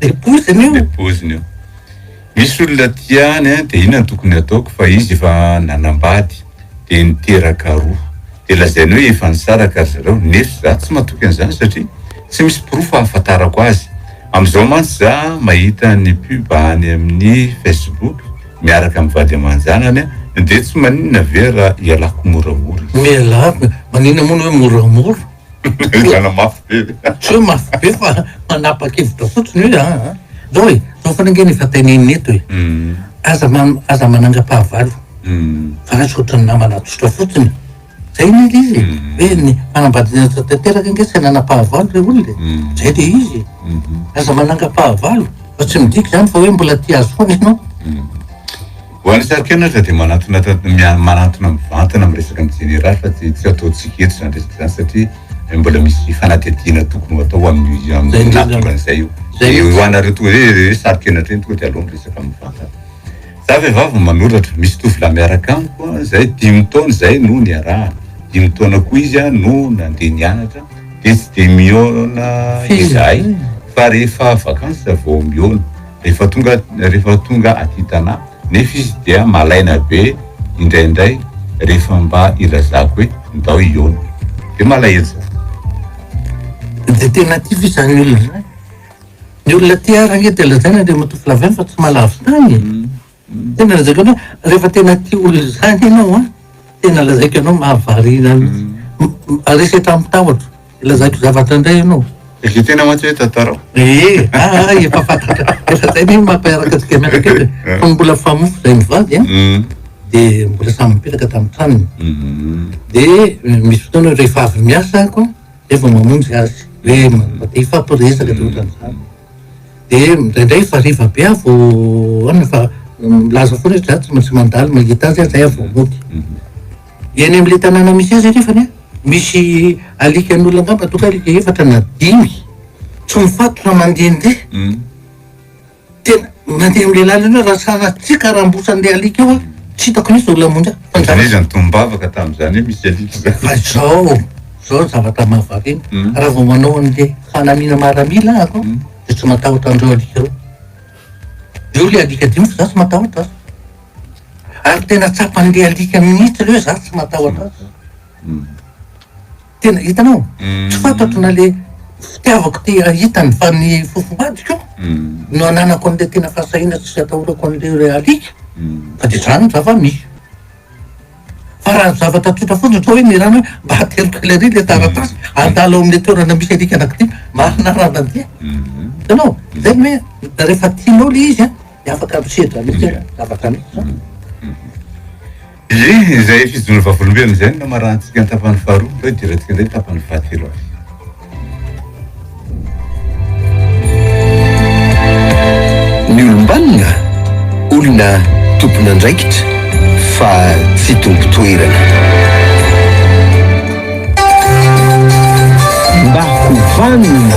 Le poziny io. Le poziny io. Misy olona tia any an dia inona no tokony ataoko fa izy efa nanambady dia niteraka roa dia lazainy hoe efa nisaraka ry zareo nefs za tsy matoky an'izany satria tsy misy porofo ahafatarako azy amzao mantsy za mahita ny pub any amin'ny facebook miaraka amin'ny vady aman-janany an dia tsy maninona ve raha ialako moramora izy. Mialako e! Maninona moa ny hoe moramora? Enjana mafy be ve? Tsy hoe mafy be fa manapa-kevitra fotsiny hoe an, zao e, zao foana ange ny efa teneniny eto e, aza aza manangam-pahavalo fa lasa ohatran'ny namana tsotra fotsiny. Zay ny ilay izy e, hoe ny fanambadiana tsotra tanteraka ange tsy nanam-pahavalo le olona e, zay le izy e, aza manangam-pahavalo fa tsy midika zany fa hoe mbola tia azy foana ianao. Ho an'ny sary kely aza dia manantona manantona mivantana amin'ny resaka ny jeneraly fa tsy tsy ataontsika eto izany resaka izany satria mbola misy fanadihadiana tokony ho atao amin'ny amin'ny nahatonga an'izay io. Zay ho anareo toa hoe hoe sary kely hatreny tonga dia aleo miresaka mivantana. Za vehivavy manoratra, misy tovolahy miaraka amiko izay dimy taona izay no niarahana. Dimy taona koa izy no nandeha nianatra dia tsy dia mihaona izahay fa rehefa vacances vao mihaona. Rehefa tonga rehefa tonga aty Tana nefa izy dia malaina be indraindray rehefa mba ilazako hoe ndao hihaona dia malahelo za. Dia tena aty ve izany olona izany? Ny olona aty ary ange dia lazaina Andriamatoa Flavien fa tsy mahalavo tany e! Tena lazaiko anao rehefa tena tia olona izany ianao an, tena lazaiko anao mahavariana mihitsy. Resy hatramin'ny tahotra, lazaiko zavatra indray ianao. Dia tena mantsy hoe tantarao. Ee, aa efa fantatra, efa izay ve mampiaraka antsika mianaka eo dia fony mbola famofo izahay mivady an, dia mbola samy nipetraka tamin'ny tranony. Dia misy fotoana rehefa avy miasa aho an, dia vao mamonjy azy, hoe te hifampiresaka dia ohatran'izany. Dia indraindray hariva be aho vao ahoana fa milaza foana izy za tsy maintsy mandalo mahita azy aho zay aho vao mody. Eny amin'le tanàna misy azy anefany an, misy alikan'olona angamba ataoko hoe alika efatra na dimy tsy mifatotra mandehandeha, tena. Mandeha amin'ilay lalana eo raha sahala tsy karambosan'ilay alika eo aho, tsy hitako mihitsy izao lamonjy aho. Fa izany hoe izany tombavaka tamin'izany hoe misy alika izany. Fa izao, izao ny zavatra mahavariana, hmm. raha vao manao an'ilay fanamiana maramila aho aho, hmm. dia tsy matahotra an'ireo alika ireo. Eo ilay alika dimy fa za tsy matahotra azy. Ary tena tsapan'ilay alika mihitsy ireo za tsy matahotra azy. Hmm. tena hitanao tsy fantatro na le fitiavako te hahita ny fa ny fofombadiko no ananako an'le tena fahasahiana tsy atahorako an'le re alika fa de zany ny zava-misy fa raha zavatra tsotra fotsiny ohatra hoe Mirana hoe mba ateliko ela ery le taratasy andalo ao amin'le toerana misy alika anankidia mba hanaran'andia hitanao zay ny hoe rehefa tianao le izy a de afaka misedra mihitsy hoe zavatra misy zany Ie, izay fijono vavolombelona izay no namaranantsika ny tapany faharoa, ndao hidirantsika indray ny tapany fahatelo avy. Ny olom-banona, olona tompon'andraikitra fa tsy tompon-toerana. Mba ho vanona!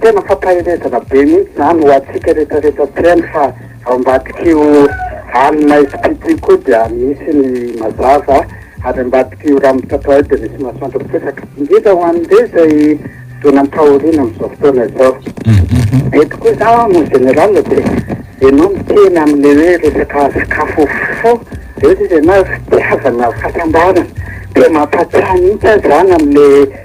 Tena fampaherezana be mihitsy izany ho antsika rehetra rehetra mpihaino fa ao ambadik'io any Maisipito io koa dia misy ny mazava ary ambadik'io rano mitratra io dia misy masoandro miposaka. Indrindra ho an'ireo izay zona am-pahoriana amin'izao fotoana izao. Eto koa izaho en général dia ianao miteny amin'ny hoe resaka sakafo fo eo izy ianao fitiavana fahasambarana dia mampahatsiahy mihitsy aho izany amin'ilay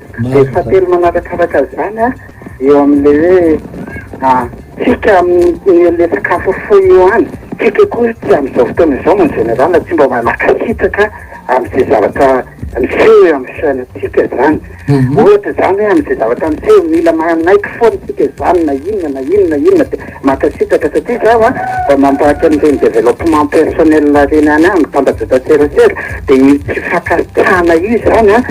Dia fahatelo manarakaraka izany an, eo amin'ilay hoe an, tsika amin'ny an'ilay sakafo foy io an, tsika koa tsy amin'izao fotoana izao en général tsy mba mankasitraka amin'izay zavatra miseho eo amin'ny fiainantsika izany. Ohatra izany hoe amin'izay zavatra miseho mila manaiky foana isika izany na inona na inona na inona dia mankasitraka satria izaho an, mba mampahatra an'ireny développement personnel ireny ihany aho mitambajotra serasera dia io tsy fankasitrahana io izany an,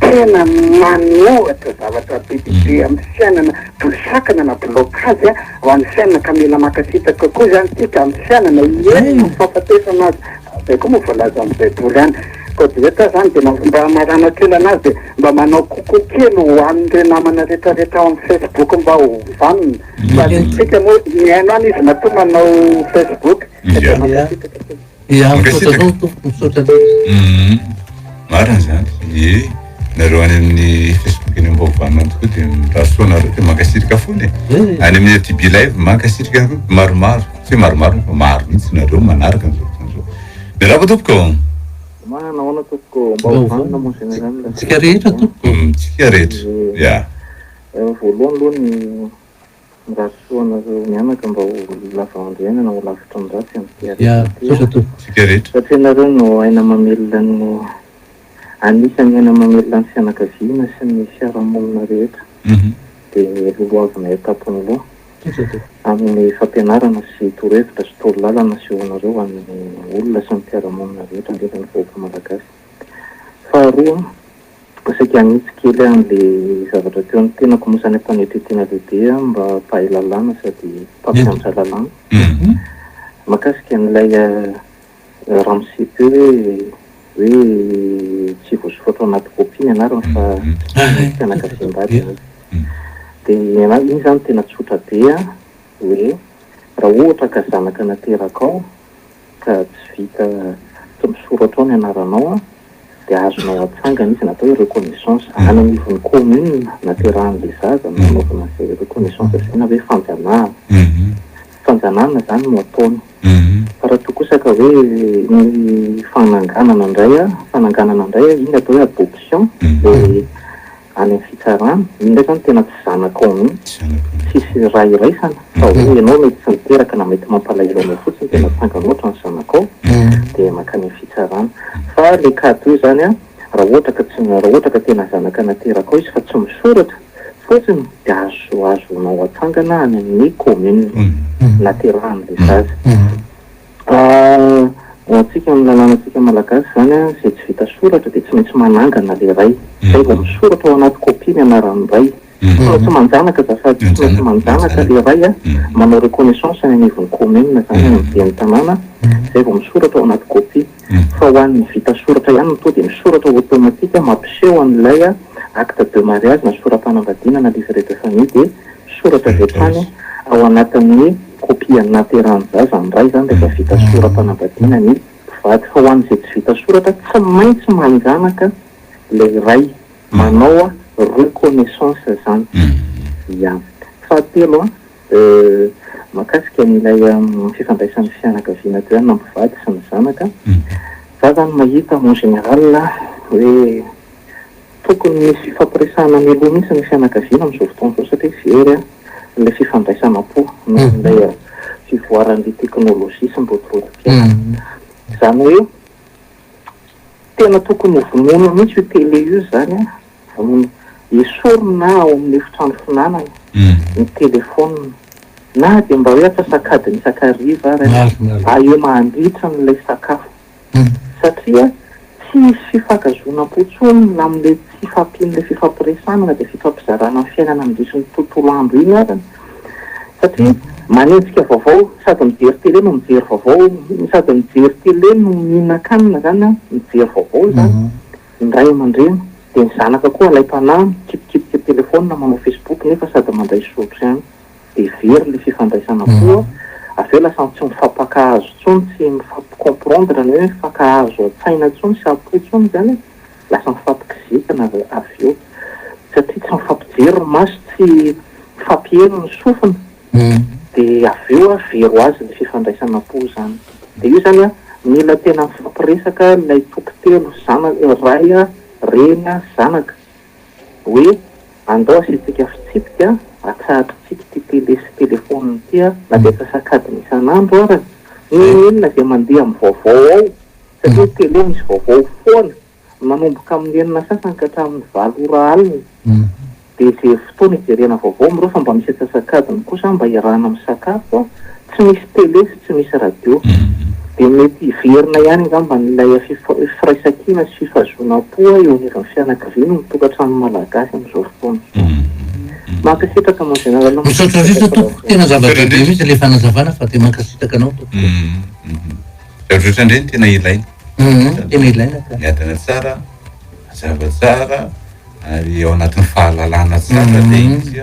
Tena manohatra zavatra be dia be amin'ny fiainana toy sakana na blocage ho an'ny fiainana ka mila mankasitraka kokoa izany isika amin'ny fiainana hiherina amin'ny fahafatesana aza izay koa moa voalaza amin'ny baiboly any koa dia eto aho izany dia mba mba hamaranako kely an'azy dia mba manao coucou kely ho an'ireo namana rehetra rehetra ao amin'ny facebook mba ho vanona fa ny antsika moa mihaino any izy matoa manao facebook dia mankasitraka Dia misaotra anao tompoko, misaotra anao. Marina izany, ie nareo any amin'ny Facebook eny ambaovanao tokoa dia mirasoa nareo dia mankasitrika fona e. Any amin'ny ATB Live mankasitrika anareo maromaro, tsy maromaro fa maro mihitsy nareo manaraka an'izao fotoana izao. Miarahaba tompoko. Ma nahoana tompoko, mba ho vanona moa zany izany le. Tsika rehetra tompoko. Tsika rehetra, ya. Voalohany aloha ny Ratsy fo anareo mianaka mba ho lava androany na ho lavitra am ratsy am tia rehetra tia satria nareo no aina mamelona ny anisany aina mamelona ny fianakaviana sy ny fiarahamonina rehetra de lolohavina etapony loha aminy fampianarana sy torohevitra sy toro lalana asehonareo any olona sy ny mpiaramonina rehetra ndrindra ny vahoaka malagasy faharoa Mba saika hanitsy kely aho an'le zavatra teo ny tenako moa zany am-panetren-tena lehibe aho mba mpahay lalàna sady mpampianatra lalàna. Mahakasika an'ilay ramose teo hoe hoe tsy voasoratra ao anaty copie ny anarany fa fianakaviam-bady ianareo. Dia ny anah iny zany tena tsotra be hoe raha ohatra ka zanaka naterakao, ka tsy vita tsy misoratra ao ny anaranao an, dia azonao atsangana izy na atao hoe reconnaissance any anivon'ny commune naterahan'ilay zaza no anaovana izay reconnaissance izay na hoe fanjanahana, fanjanahana izany no ataony fa raha toa kosa ka hoe ny fananganana indray an, fananganana indray an, iny atao hoe adoption dia any amin'ny fitsarana, iny ndray zany tena tsy zanakao mihitsy, tsisy raha iraisana fa hoe ianao mety tsy niteraka na mety mampalahelo anao fotsiny dia natsangany ohatra ny zanakao dia mankany amin'ny fitsarana. Fa le cas toy izany an, raha ohatra ka tsy, raha ohatra ka tena zanaka naterakao izy fa tsy misoratra fotsiny dia azo, azonao atsangana any amin'ny commune naterahan'ilay zaza. Fa ho antsika amin'ny lalànantsika malagasy izany an, izay tsy vita soratra dia tsy maintsy manangana ilay ray, izay vao misoratra ao anaty copie ny anaran'ny ray. Tsy maintsy manjanaka azafady, tsy maintsy manjanaka ilay ray an, manao reconnaissance any anivon'ny commune izany, any amin'ny ben'ny tanàna, izay vao misoratra ao anaty copie. Fa ho an'ny vita soratra ihany no tonga dia misoratra automatique mampiseho an'ilay acte de mariage na sora-panambadiana na livret de famille dia. Soratra avy hatrany ao anatin'ny kopia nahaterahan'ny zaza ny ray izany rehefa vita sora-panambadiana ny mpivady. Fa ho an'izay tsy vita soratra, tsy maintsy manjanaka ilay ray manao reconnaissance izany. Ya. Fahatelo, mahakasika an'ilay fifandraisan'ny fianakaviana teo ihany na mpivady sy ny zanaka, za izany mahita en général hoe. Tokony misy fifampiresahana mialoha mihitsy ny fianakaviana amin'izao fotoana izao satria very ilay fifandraisanam-po noho ilay fivoaran'ny teknolojia sy ny rotorotom-piainana. Izany hoe tena tokony ho vonoina mihitsy io tele io izany, vonoina, esorina ao amin'ny efitrano fihinanana ny telefaonina na dia mba hoe atsasak'adiny isakariva ary aloha ahiana handritra an'ilay sakafo. Satria tsy hisy fifankazonapo tsony na amle tsy fampianle fifampiresana na de fifampizarana ny fiainana mindiso ny tontolo andro iny arany satria manenjika vaovao sady mijery tele no mijery vaovao sady mijery tele no mihinankanina zany an mijery vaovao izany ny ray aman-dreny de ny zanaka koa alaim-panahy mikipikipiky telefona manao facebook nefa sady mandray zotry ihany dia very le fifandraisana koa, avy eo lasa tsy mifampakahazo intsony, tsy mifampi-comprendre ny hoe mifankahazo an-tsaina intsony sy am-po intsony zany e, lasa mifampikizitina avy eo satria tsy mifampijery ny maso, tsy mifampiheno ny sofina, dia avy eo a very ho azy ny fifandraisana am-po zany, dia io zany a mila tena mifampiresaka ilay toko telo, zana- ray a, reny a, zanaka, hoe andao asiantsika fitsipika atsahatrintsika ity tele sy telephone ity a, na dia antsasakadiny isan'andro ara na inona izay mandeha amin'ny vaovao ao satria ny tele misy vaovao foana manomboka amin'ny enina sasany ka hatramin'ny valo ora alina dia izay fotoana ijerena vaovao amin'ireo fa mba misy antsasakadiny kosa mba iarahana misakafo a, tsy misy tele sy. tsy misy radio. Dia mety hiverina ihany angamba ilay firaisankina sy fifazoanam-po eo anivon'ny fianakaviana eo amin'ny tokantranon'ny Malagasy amin'izao fotoana izao. Mankasitraka mon Général Misaotra indrindra tompoko, tena zava-dehibe mihitsy ilay fanazavana fa dia mankasitraka anao tompoko. Misaotra indray, tena ilaina. Tena ilaina ka. Miadana tsara, mazava tsara ary ao anatin'ny fahalalana tsara ilay izy.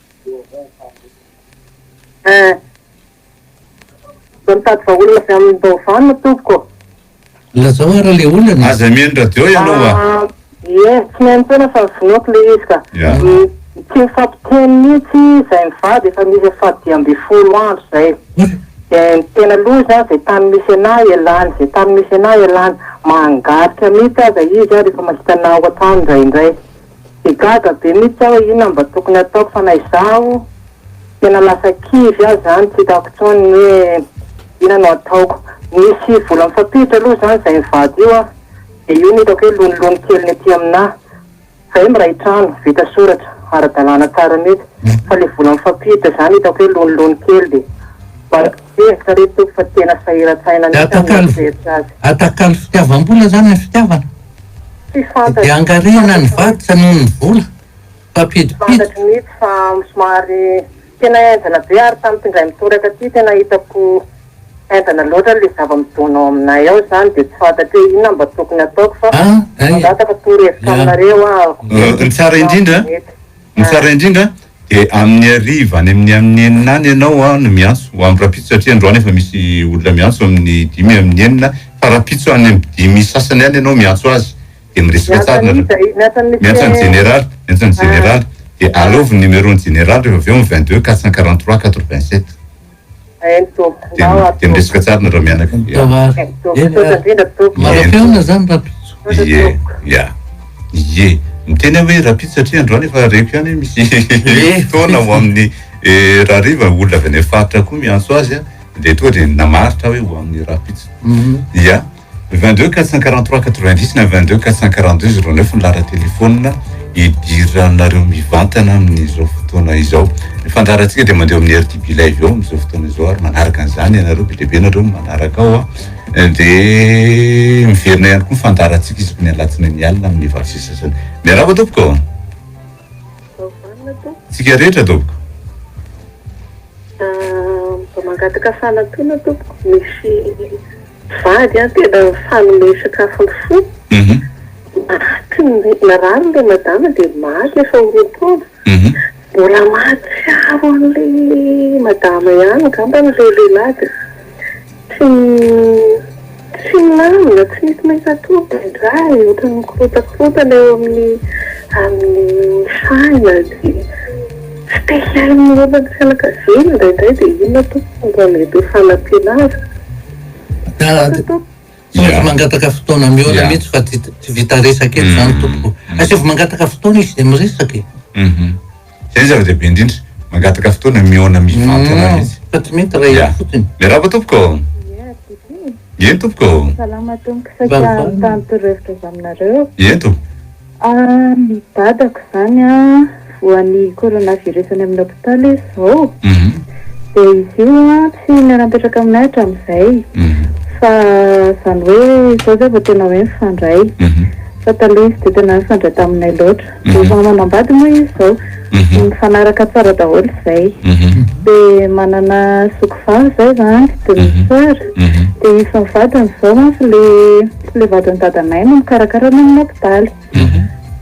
Zao mitady vahaolana avy aminy Baovao no tompoko ô. Lazao ara le olana e. Aza mihaino radio ianao a. Ie, tsy mihaino foana fa vonoako le izy ka. Tsy mifampiteny mihitsy zay mivady efa misy faha dimy ambin'ny folo andro zay. De ny tena loza zay tany misy anà ialany, zay tany misy anà ialany. Mangarika mihitsy aza izy rehefa mahita anà ao an-trano indraindray. Dia gaga be mihitsy aho hoe inona mba tokony ataoko fa na izaho tena lasa kivy aza izany tsy hitako intsony ny hoe inona no ataoko. Nisy vola mifampiditra aloha izany izay mivady io aho dia io no hitako hoe lonilony kely ny aty aminà izahay miray trano vita soratra ara-dalàna tsara mihitsy fa ilay vola mifampiditra izany hitako hoe lonilony kely dia mba hevitra re tompoko fa tena sahiran-tsaina mihitsy aho mieritreritra azy. Atakalo fitiavam-bola izany ny fitiavana? Tsy fantatro. Dia angarihana ny vaditra noho ny vola. Mpampidimpiditra. Tsy fantatro mihitsy fa somary tena enjana be ary tamin'ity indray mitoraka ity tena hitako enjana loatra ilay zava-midona ao aminay ao izany dia tsy fantatro hoe inona mba tokony hataoko fa mangataka torohevitra aminareo aho. Ny tsara indrindra. Ny tsara indrindra dia amin'ny hariva any amin'ny amin'ny enina any ianao no miantso ho amin'ny rahampitso satria androany efa misy olona miantso amin'ny dimy amin'ny enina fa rahampitso any amin'ny dimy sasany any ianao miantso azy dia miresaka tsara ny rahampitso. Miantso an'i Jeneraly, miantso an'i Jeneraly dia alaovy ny numéro-n'i Jeneraly rehefa avy eo amin'ny vingt deux quatre cent quarante trois quatre vingt sept. Tena resaka tsara nareo mianaka. Maraim-pihaona zany Rapitso. Ie, ia, ie. Miteny aho hoe Rapitso satria androany efa reko ihany hoe misy fotoana ho amin'ny eh, rahariva olona avy any faritra koa miantso azy dia toa dia namaritra aho hoe ho amin'ny Rapitso. Mhm. Ia. 22 443 90 na 22 442 09 ny laharan-telefaonina idiranareo mivantana amin'izao fotoana izao. Ny fandaharantsika dia mandeha amin'ny RTB Live eo amin'izao fotoana izao ary manaraka an'izany ianareo be dia be nareo manaraka ao a. Eh, dia miverina ihany koa ny fandaharantsika isaky ny alatsinainy alina amin'ny valo sy sasany. Miarahaba tompoko. Tsika rehetra tompoko. Ah, mangataka fanampiana tompoko. Misy Vady an tena mifanome sakafo ny fo, maty ny narary ilay madama dia maty efa ho roa taona, mbola mahatsiaro an'ilay madama ihany angambany ilay lehilahy dia tsy tsy milamina, tsy misy mahita tory indraindray, ohatran'ny mikorotakarontana eo amin'ny amin'ny saina dia. Spécial momba ny fianakaviana indraindray dia inona tompoko mba mety ho fanampiana azy? Misaotra tompoko. Asaivo mangataka fotoana mihoana mihitsy fa tsy vita resaka eto izany tompoko. Asaivo mangataka fotoana izy izay miresaka e. Izay no zava-dehibe indrindra. Mangataka fotoana mihoana mivantana mihitsy. Fa tsy mety raha eo fotsiny. Miarahaba tompoko. Eny tompoko. Salama tompoko saika mitady torohevitra avy aminareo. Eny tompoko. Ary ny dadako izany an, voan'ny coronavirus any amin'ny hopitaly izy izao, dia izy io an tsy niara-nipetraka aminay hatramin'izay, fa izany hoe izao izay vao tena hoe mifandray, fa taloha izy tsy dia tena nifandray taminay loatra, dia efa manambady moa izy izao, mifanaraka tsara daholo izay, dia manana zoky vavy izahay izany, demi-soeur, dia izy sy ny vadiny izao mantsy ilay. le vadin'ny dadanay no mikarakara ny amin'ny hopitaly.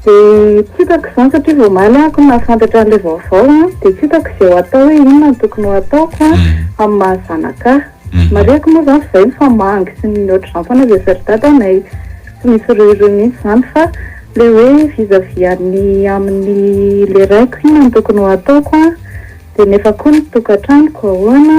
Dia tsy hitako izany satria vao omaly aho no nahafantatra an'ilay vaovao an, dia tsy hitako izay ho atao hoe inona no tokony ho ataoko an, amin'ny maha zanaka ahy. Marihiko moa izany fa izay no fa mangy sy ny ohatr'izany foana izay asain'ny dadanay. Tsy misy ruh-ruh mihitsy izany fa ilay hoe vis-à-vis an'ny amin'ny ilay raiko inona no tokony ho ataoko an, dia nefa koa ny tokantranoko ahoana,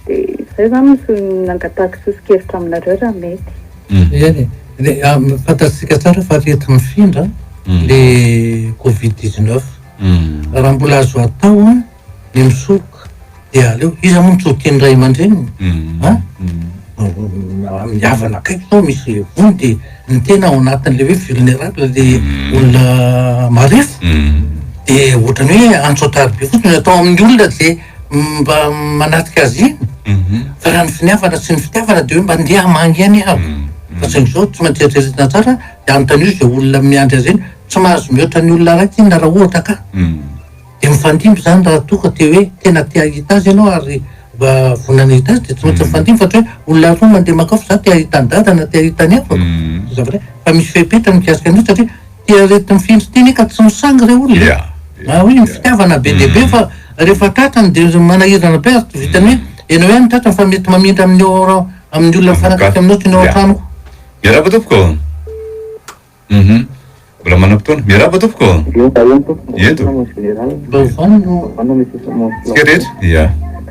dia izay izany no nangatahako soso-kevitra aminareo raha mety. Eny e, fantatsika tsara fa arety mifindra le covid dix neuf, raha mbola azo atao ny misoroka de aleo, iza moa no tsy ho tian'ny ray aman-dreniny an, amin'ny havana akaiky zao misy voa de ny tena ao anatin'le hoe vulnerable le olona marefo de ohatran'ny hoe antsotary be fotsiny, atao amin'ny olona ze. mba manatrika azy iny fa raha ny finiavana sy ny fitiavana dia hoe mba ndeha hamangy any aho fa saingy izao tsy maintsy eritreretina tsara dia anontanio izay olona miandry azy iny tsy mahazo mihoatra ny olona araiky inona raha ohatra ka dia mifandimby izany raha toa ka te hoe tena te hahita azy ianao ary mba vonona hahita azy dia tsy maintsy mifandimby fa ohatra hoe olona roa mandeha makao fa za te hahita an'i dada na te hahita ny havako zavatra fa misy fepetra mikasika an'io satria Dia reto mifindra teny ka tsy misangy re olona e! Raha hoe ny fitiavana be dia be fa rehefa tratrany dia manahirana be ary tsy vitan'ny hoe ianao ihany no tratrany fa mety mamindra amin'ny ao amin'ny olona mifanakaiky aminao sy ny ao an-tranoko. Miarahaba tompoko um Mbola manam-potoana Miarahaba tompoko um Ento. Mba ovao no. Tsika rehetra. Ia.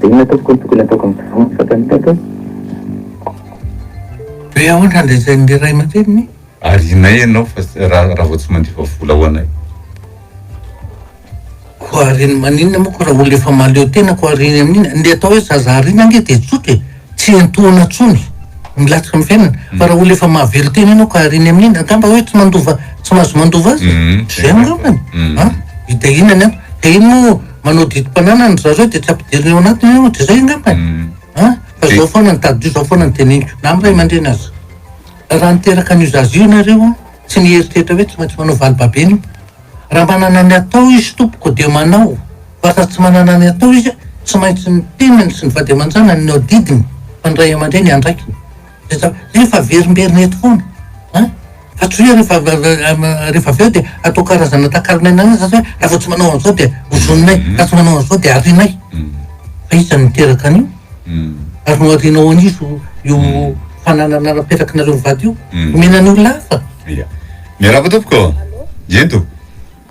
Dia inona tompoko no tokony ataoko amin'ny mpivarotra ato amin'ny tany hoe. Be aotra ndray izay ny ray aman-dreniny? Arianay ianao fa raha vao tsy mandefa vola ho anay. Koa ariny maninona moa koa raha olona efa mahaleo tena koa ariny amin'iny? Ny atao hoe zaza ariana ange dia tsotra e! Tsy entoana tsony ny latsaka ny fiainana fa raha olona efa mahavery tena enao ka ariny amin'iny angamba hoe tsy mandova tsy mahazo mandova azy zay angamba a! hidahinany an! de iny moa manao didim-pananana ry zareo de tsy ampidiriny ao anatiny io de zay angamba a! fa zao foana ny tadidio zao foana ny teneniko na amin'ny ray aman-dreny aza raha niteraka an'io zaza io nareo an! tsy nieritreritra hoe tsy maintsy manao valibabe an'io raha manana ny atao izy tompoko de manao Vasa tsy manana ny atao izy, tsy maintsy ny tenany sy ny vady aman-janany no adidiny fa ny ray aman-dreny andraikiny. Zay zavatra zay efa averimberina eto foana an! Fa tsy hoe rehefa rehefa avy eo dia atao karazana takalon'aina an'azy zany hoe raha vao tsy manao an'izao dia ozoninay, raha tsy manao an'izao dia arianay. Fa iza no niteraka an'io? Ary noharianao an'iza io fananana napetraky nareo mivady io? Omena ny olona hafa. Ia. Miarahaba tompoko. Ento.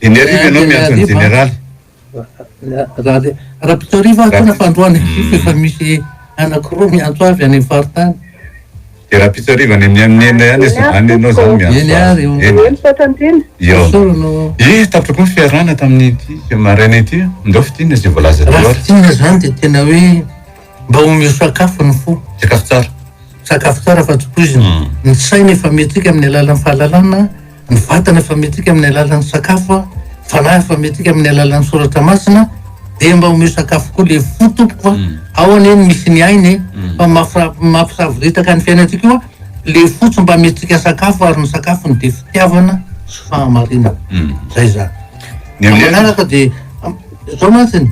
Dia ny arivo ianao miantso an'i Jeneraly. Rabetorivo aho tena fandroana izy io efa misy anankiroa miantso avy any amin'ny faritany. Dia Rabetorivo any amin'ny amin'ny enina ihany izy any ianao izany miantso. Eny ary io. Eny. Eny fa tantiana. Io. Sorry no. Eh, tapitra koa ny fiarahana tamin'ity maraina ity. Ndao fitina izay voalaza teo ary. Raha fitina izany dia tena hoe. Mba omeo sakafo ny fo. Sakafo tsara. Sakafo tsara fa tsy poizina. Ny saina efa amentsika amin'ny alalan'ny fahalalana, ny vatana efa amentsika amin'ny alalan'ny sakafo, ny fanahy efa amentsika amin'ny alalan'ny soratra masina, dia mba omeo sakafo koa le fo tompoko fa ao anie ny misy ny aina e, fa mafra- mampisavoritaka ny fiainantsika io an, le fo tsy mba amentsika sakafo ary ny sakafony dia fitiavana sy fahamarinana. Zay zany. Ny amin'ny alina? Fa manaraka dia, am- zao mantsy ny.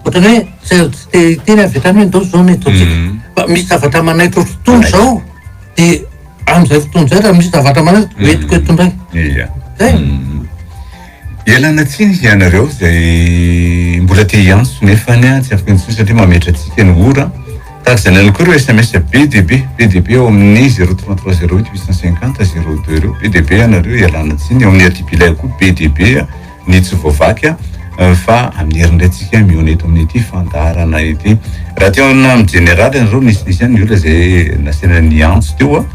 Ohatran'ny hoe tsy azo tsy te hiteny avy hatrany hoe ndao izao no ataontsika. Fa misy zavatra manaitra fotoana izao dia amin'izay fotoana izay raha misy zavatra manaitra dia hoentiko eto indray. Iya. Zay. Ialana tsiny hianareo izay mbola te hiantso nefa ny tsy afaka intsony satria mametra antsika ny ora. Tahaka izany ihany koa ireo sms be dia be, be dia be ao amin'ny zero trois trois zero huit huit cent cinquante zero deux ireo, be dia be ianareo, ialana tsiny. Ao amin'ny RTP Lay koa be dia be. ny tsy voavaky fa aniry indray tsika mihaona eto amin'ity fandaharana ity raha teo amina amin'ny jeneraly anareo nisy nisy any ny olona izay nasena ny antso teo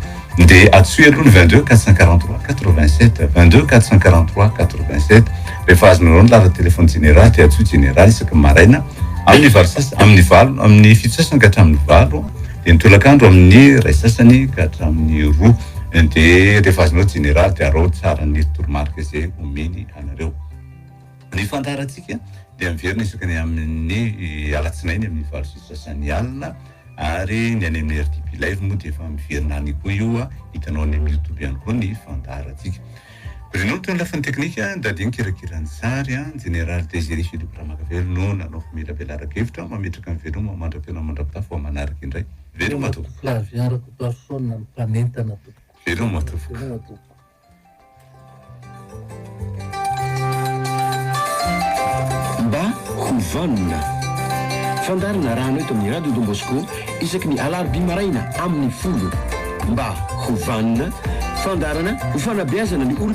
dia atsoy aloha ny 22 443 87 22 443 87 rehefa azonareo ny laharan'ny telefony jeneraly dia atsoy jeneraly isaky maraina amin'ny valo sasany amin'ny valo amin'ny fito sasany ka hatramin'ny valo dia ny tolakandro amin'ny iray sasany ka hatramin'ny roa de rehefa azonao jeneraly de araho tsara ny toromarika izay omeny anareo. Ny fandaharantsika dia miverina isaka ny amin'ny alatsinainy amin'ny valo sy sasany alina ary ny any amin'ny RTP live moa dia efa miverina any koa io a, hitanao any amin'ny youtube ihany koa ny fandaharantsika. Bruno no teo amin'ny lafiny teknika, Dadi nikirakira ny sary a, jeneraly Desiré Philippe Ramakavelo no nanao famelabelara-kevitra, mametraka ny veloma mandra-pihaona mandra-pitafo vao manaraka indray. Veloma a tompoko. Flavien Rakotoarison no mpanentana tompoko. Veloma tompoko. Veloma tompoko. Mba ho vanona. Fandaharana arahana eto amin'ny Radio Don Bosco isaky ny alarobia maraina amin'ny folo. Mba ho vanona. Fandaharana ho fanabeazana ny olom-.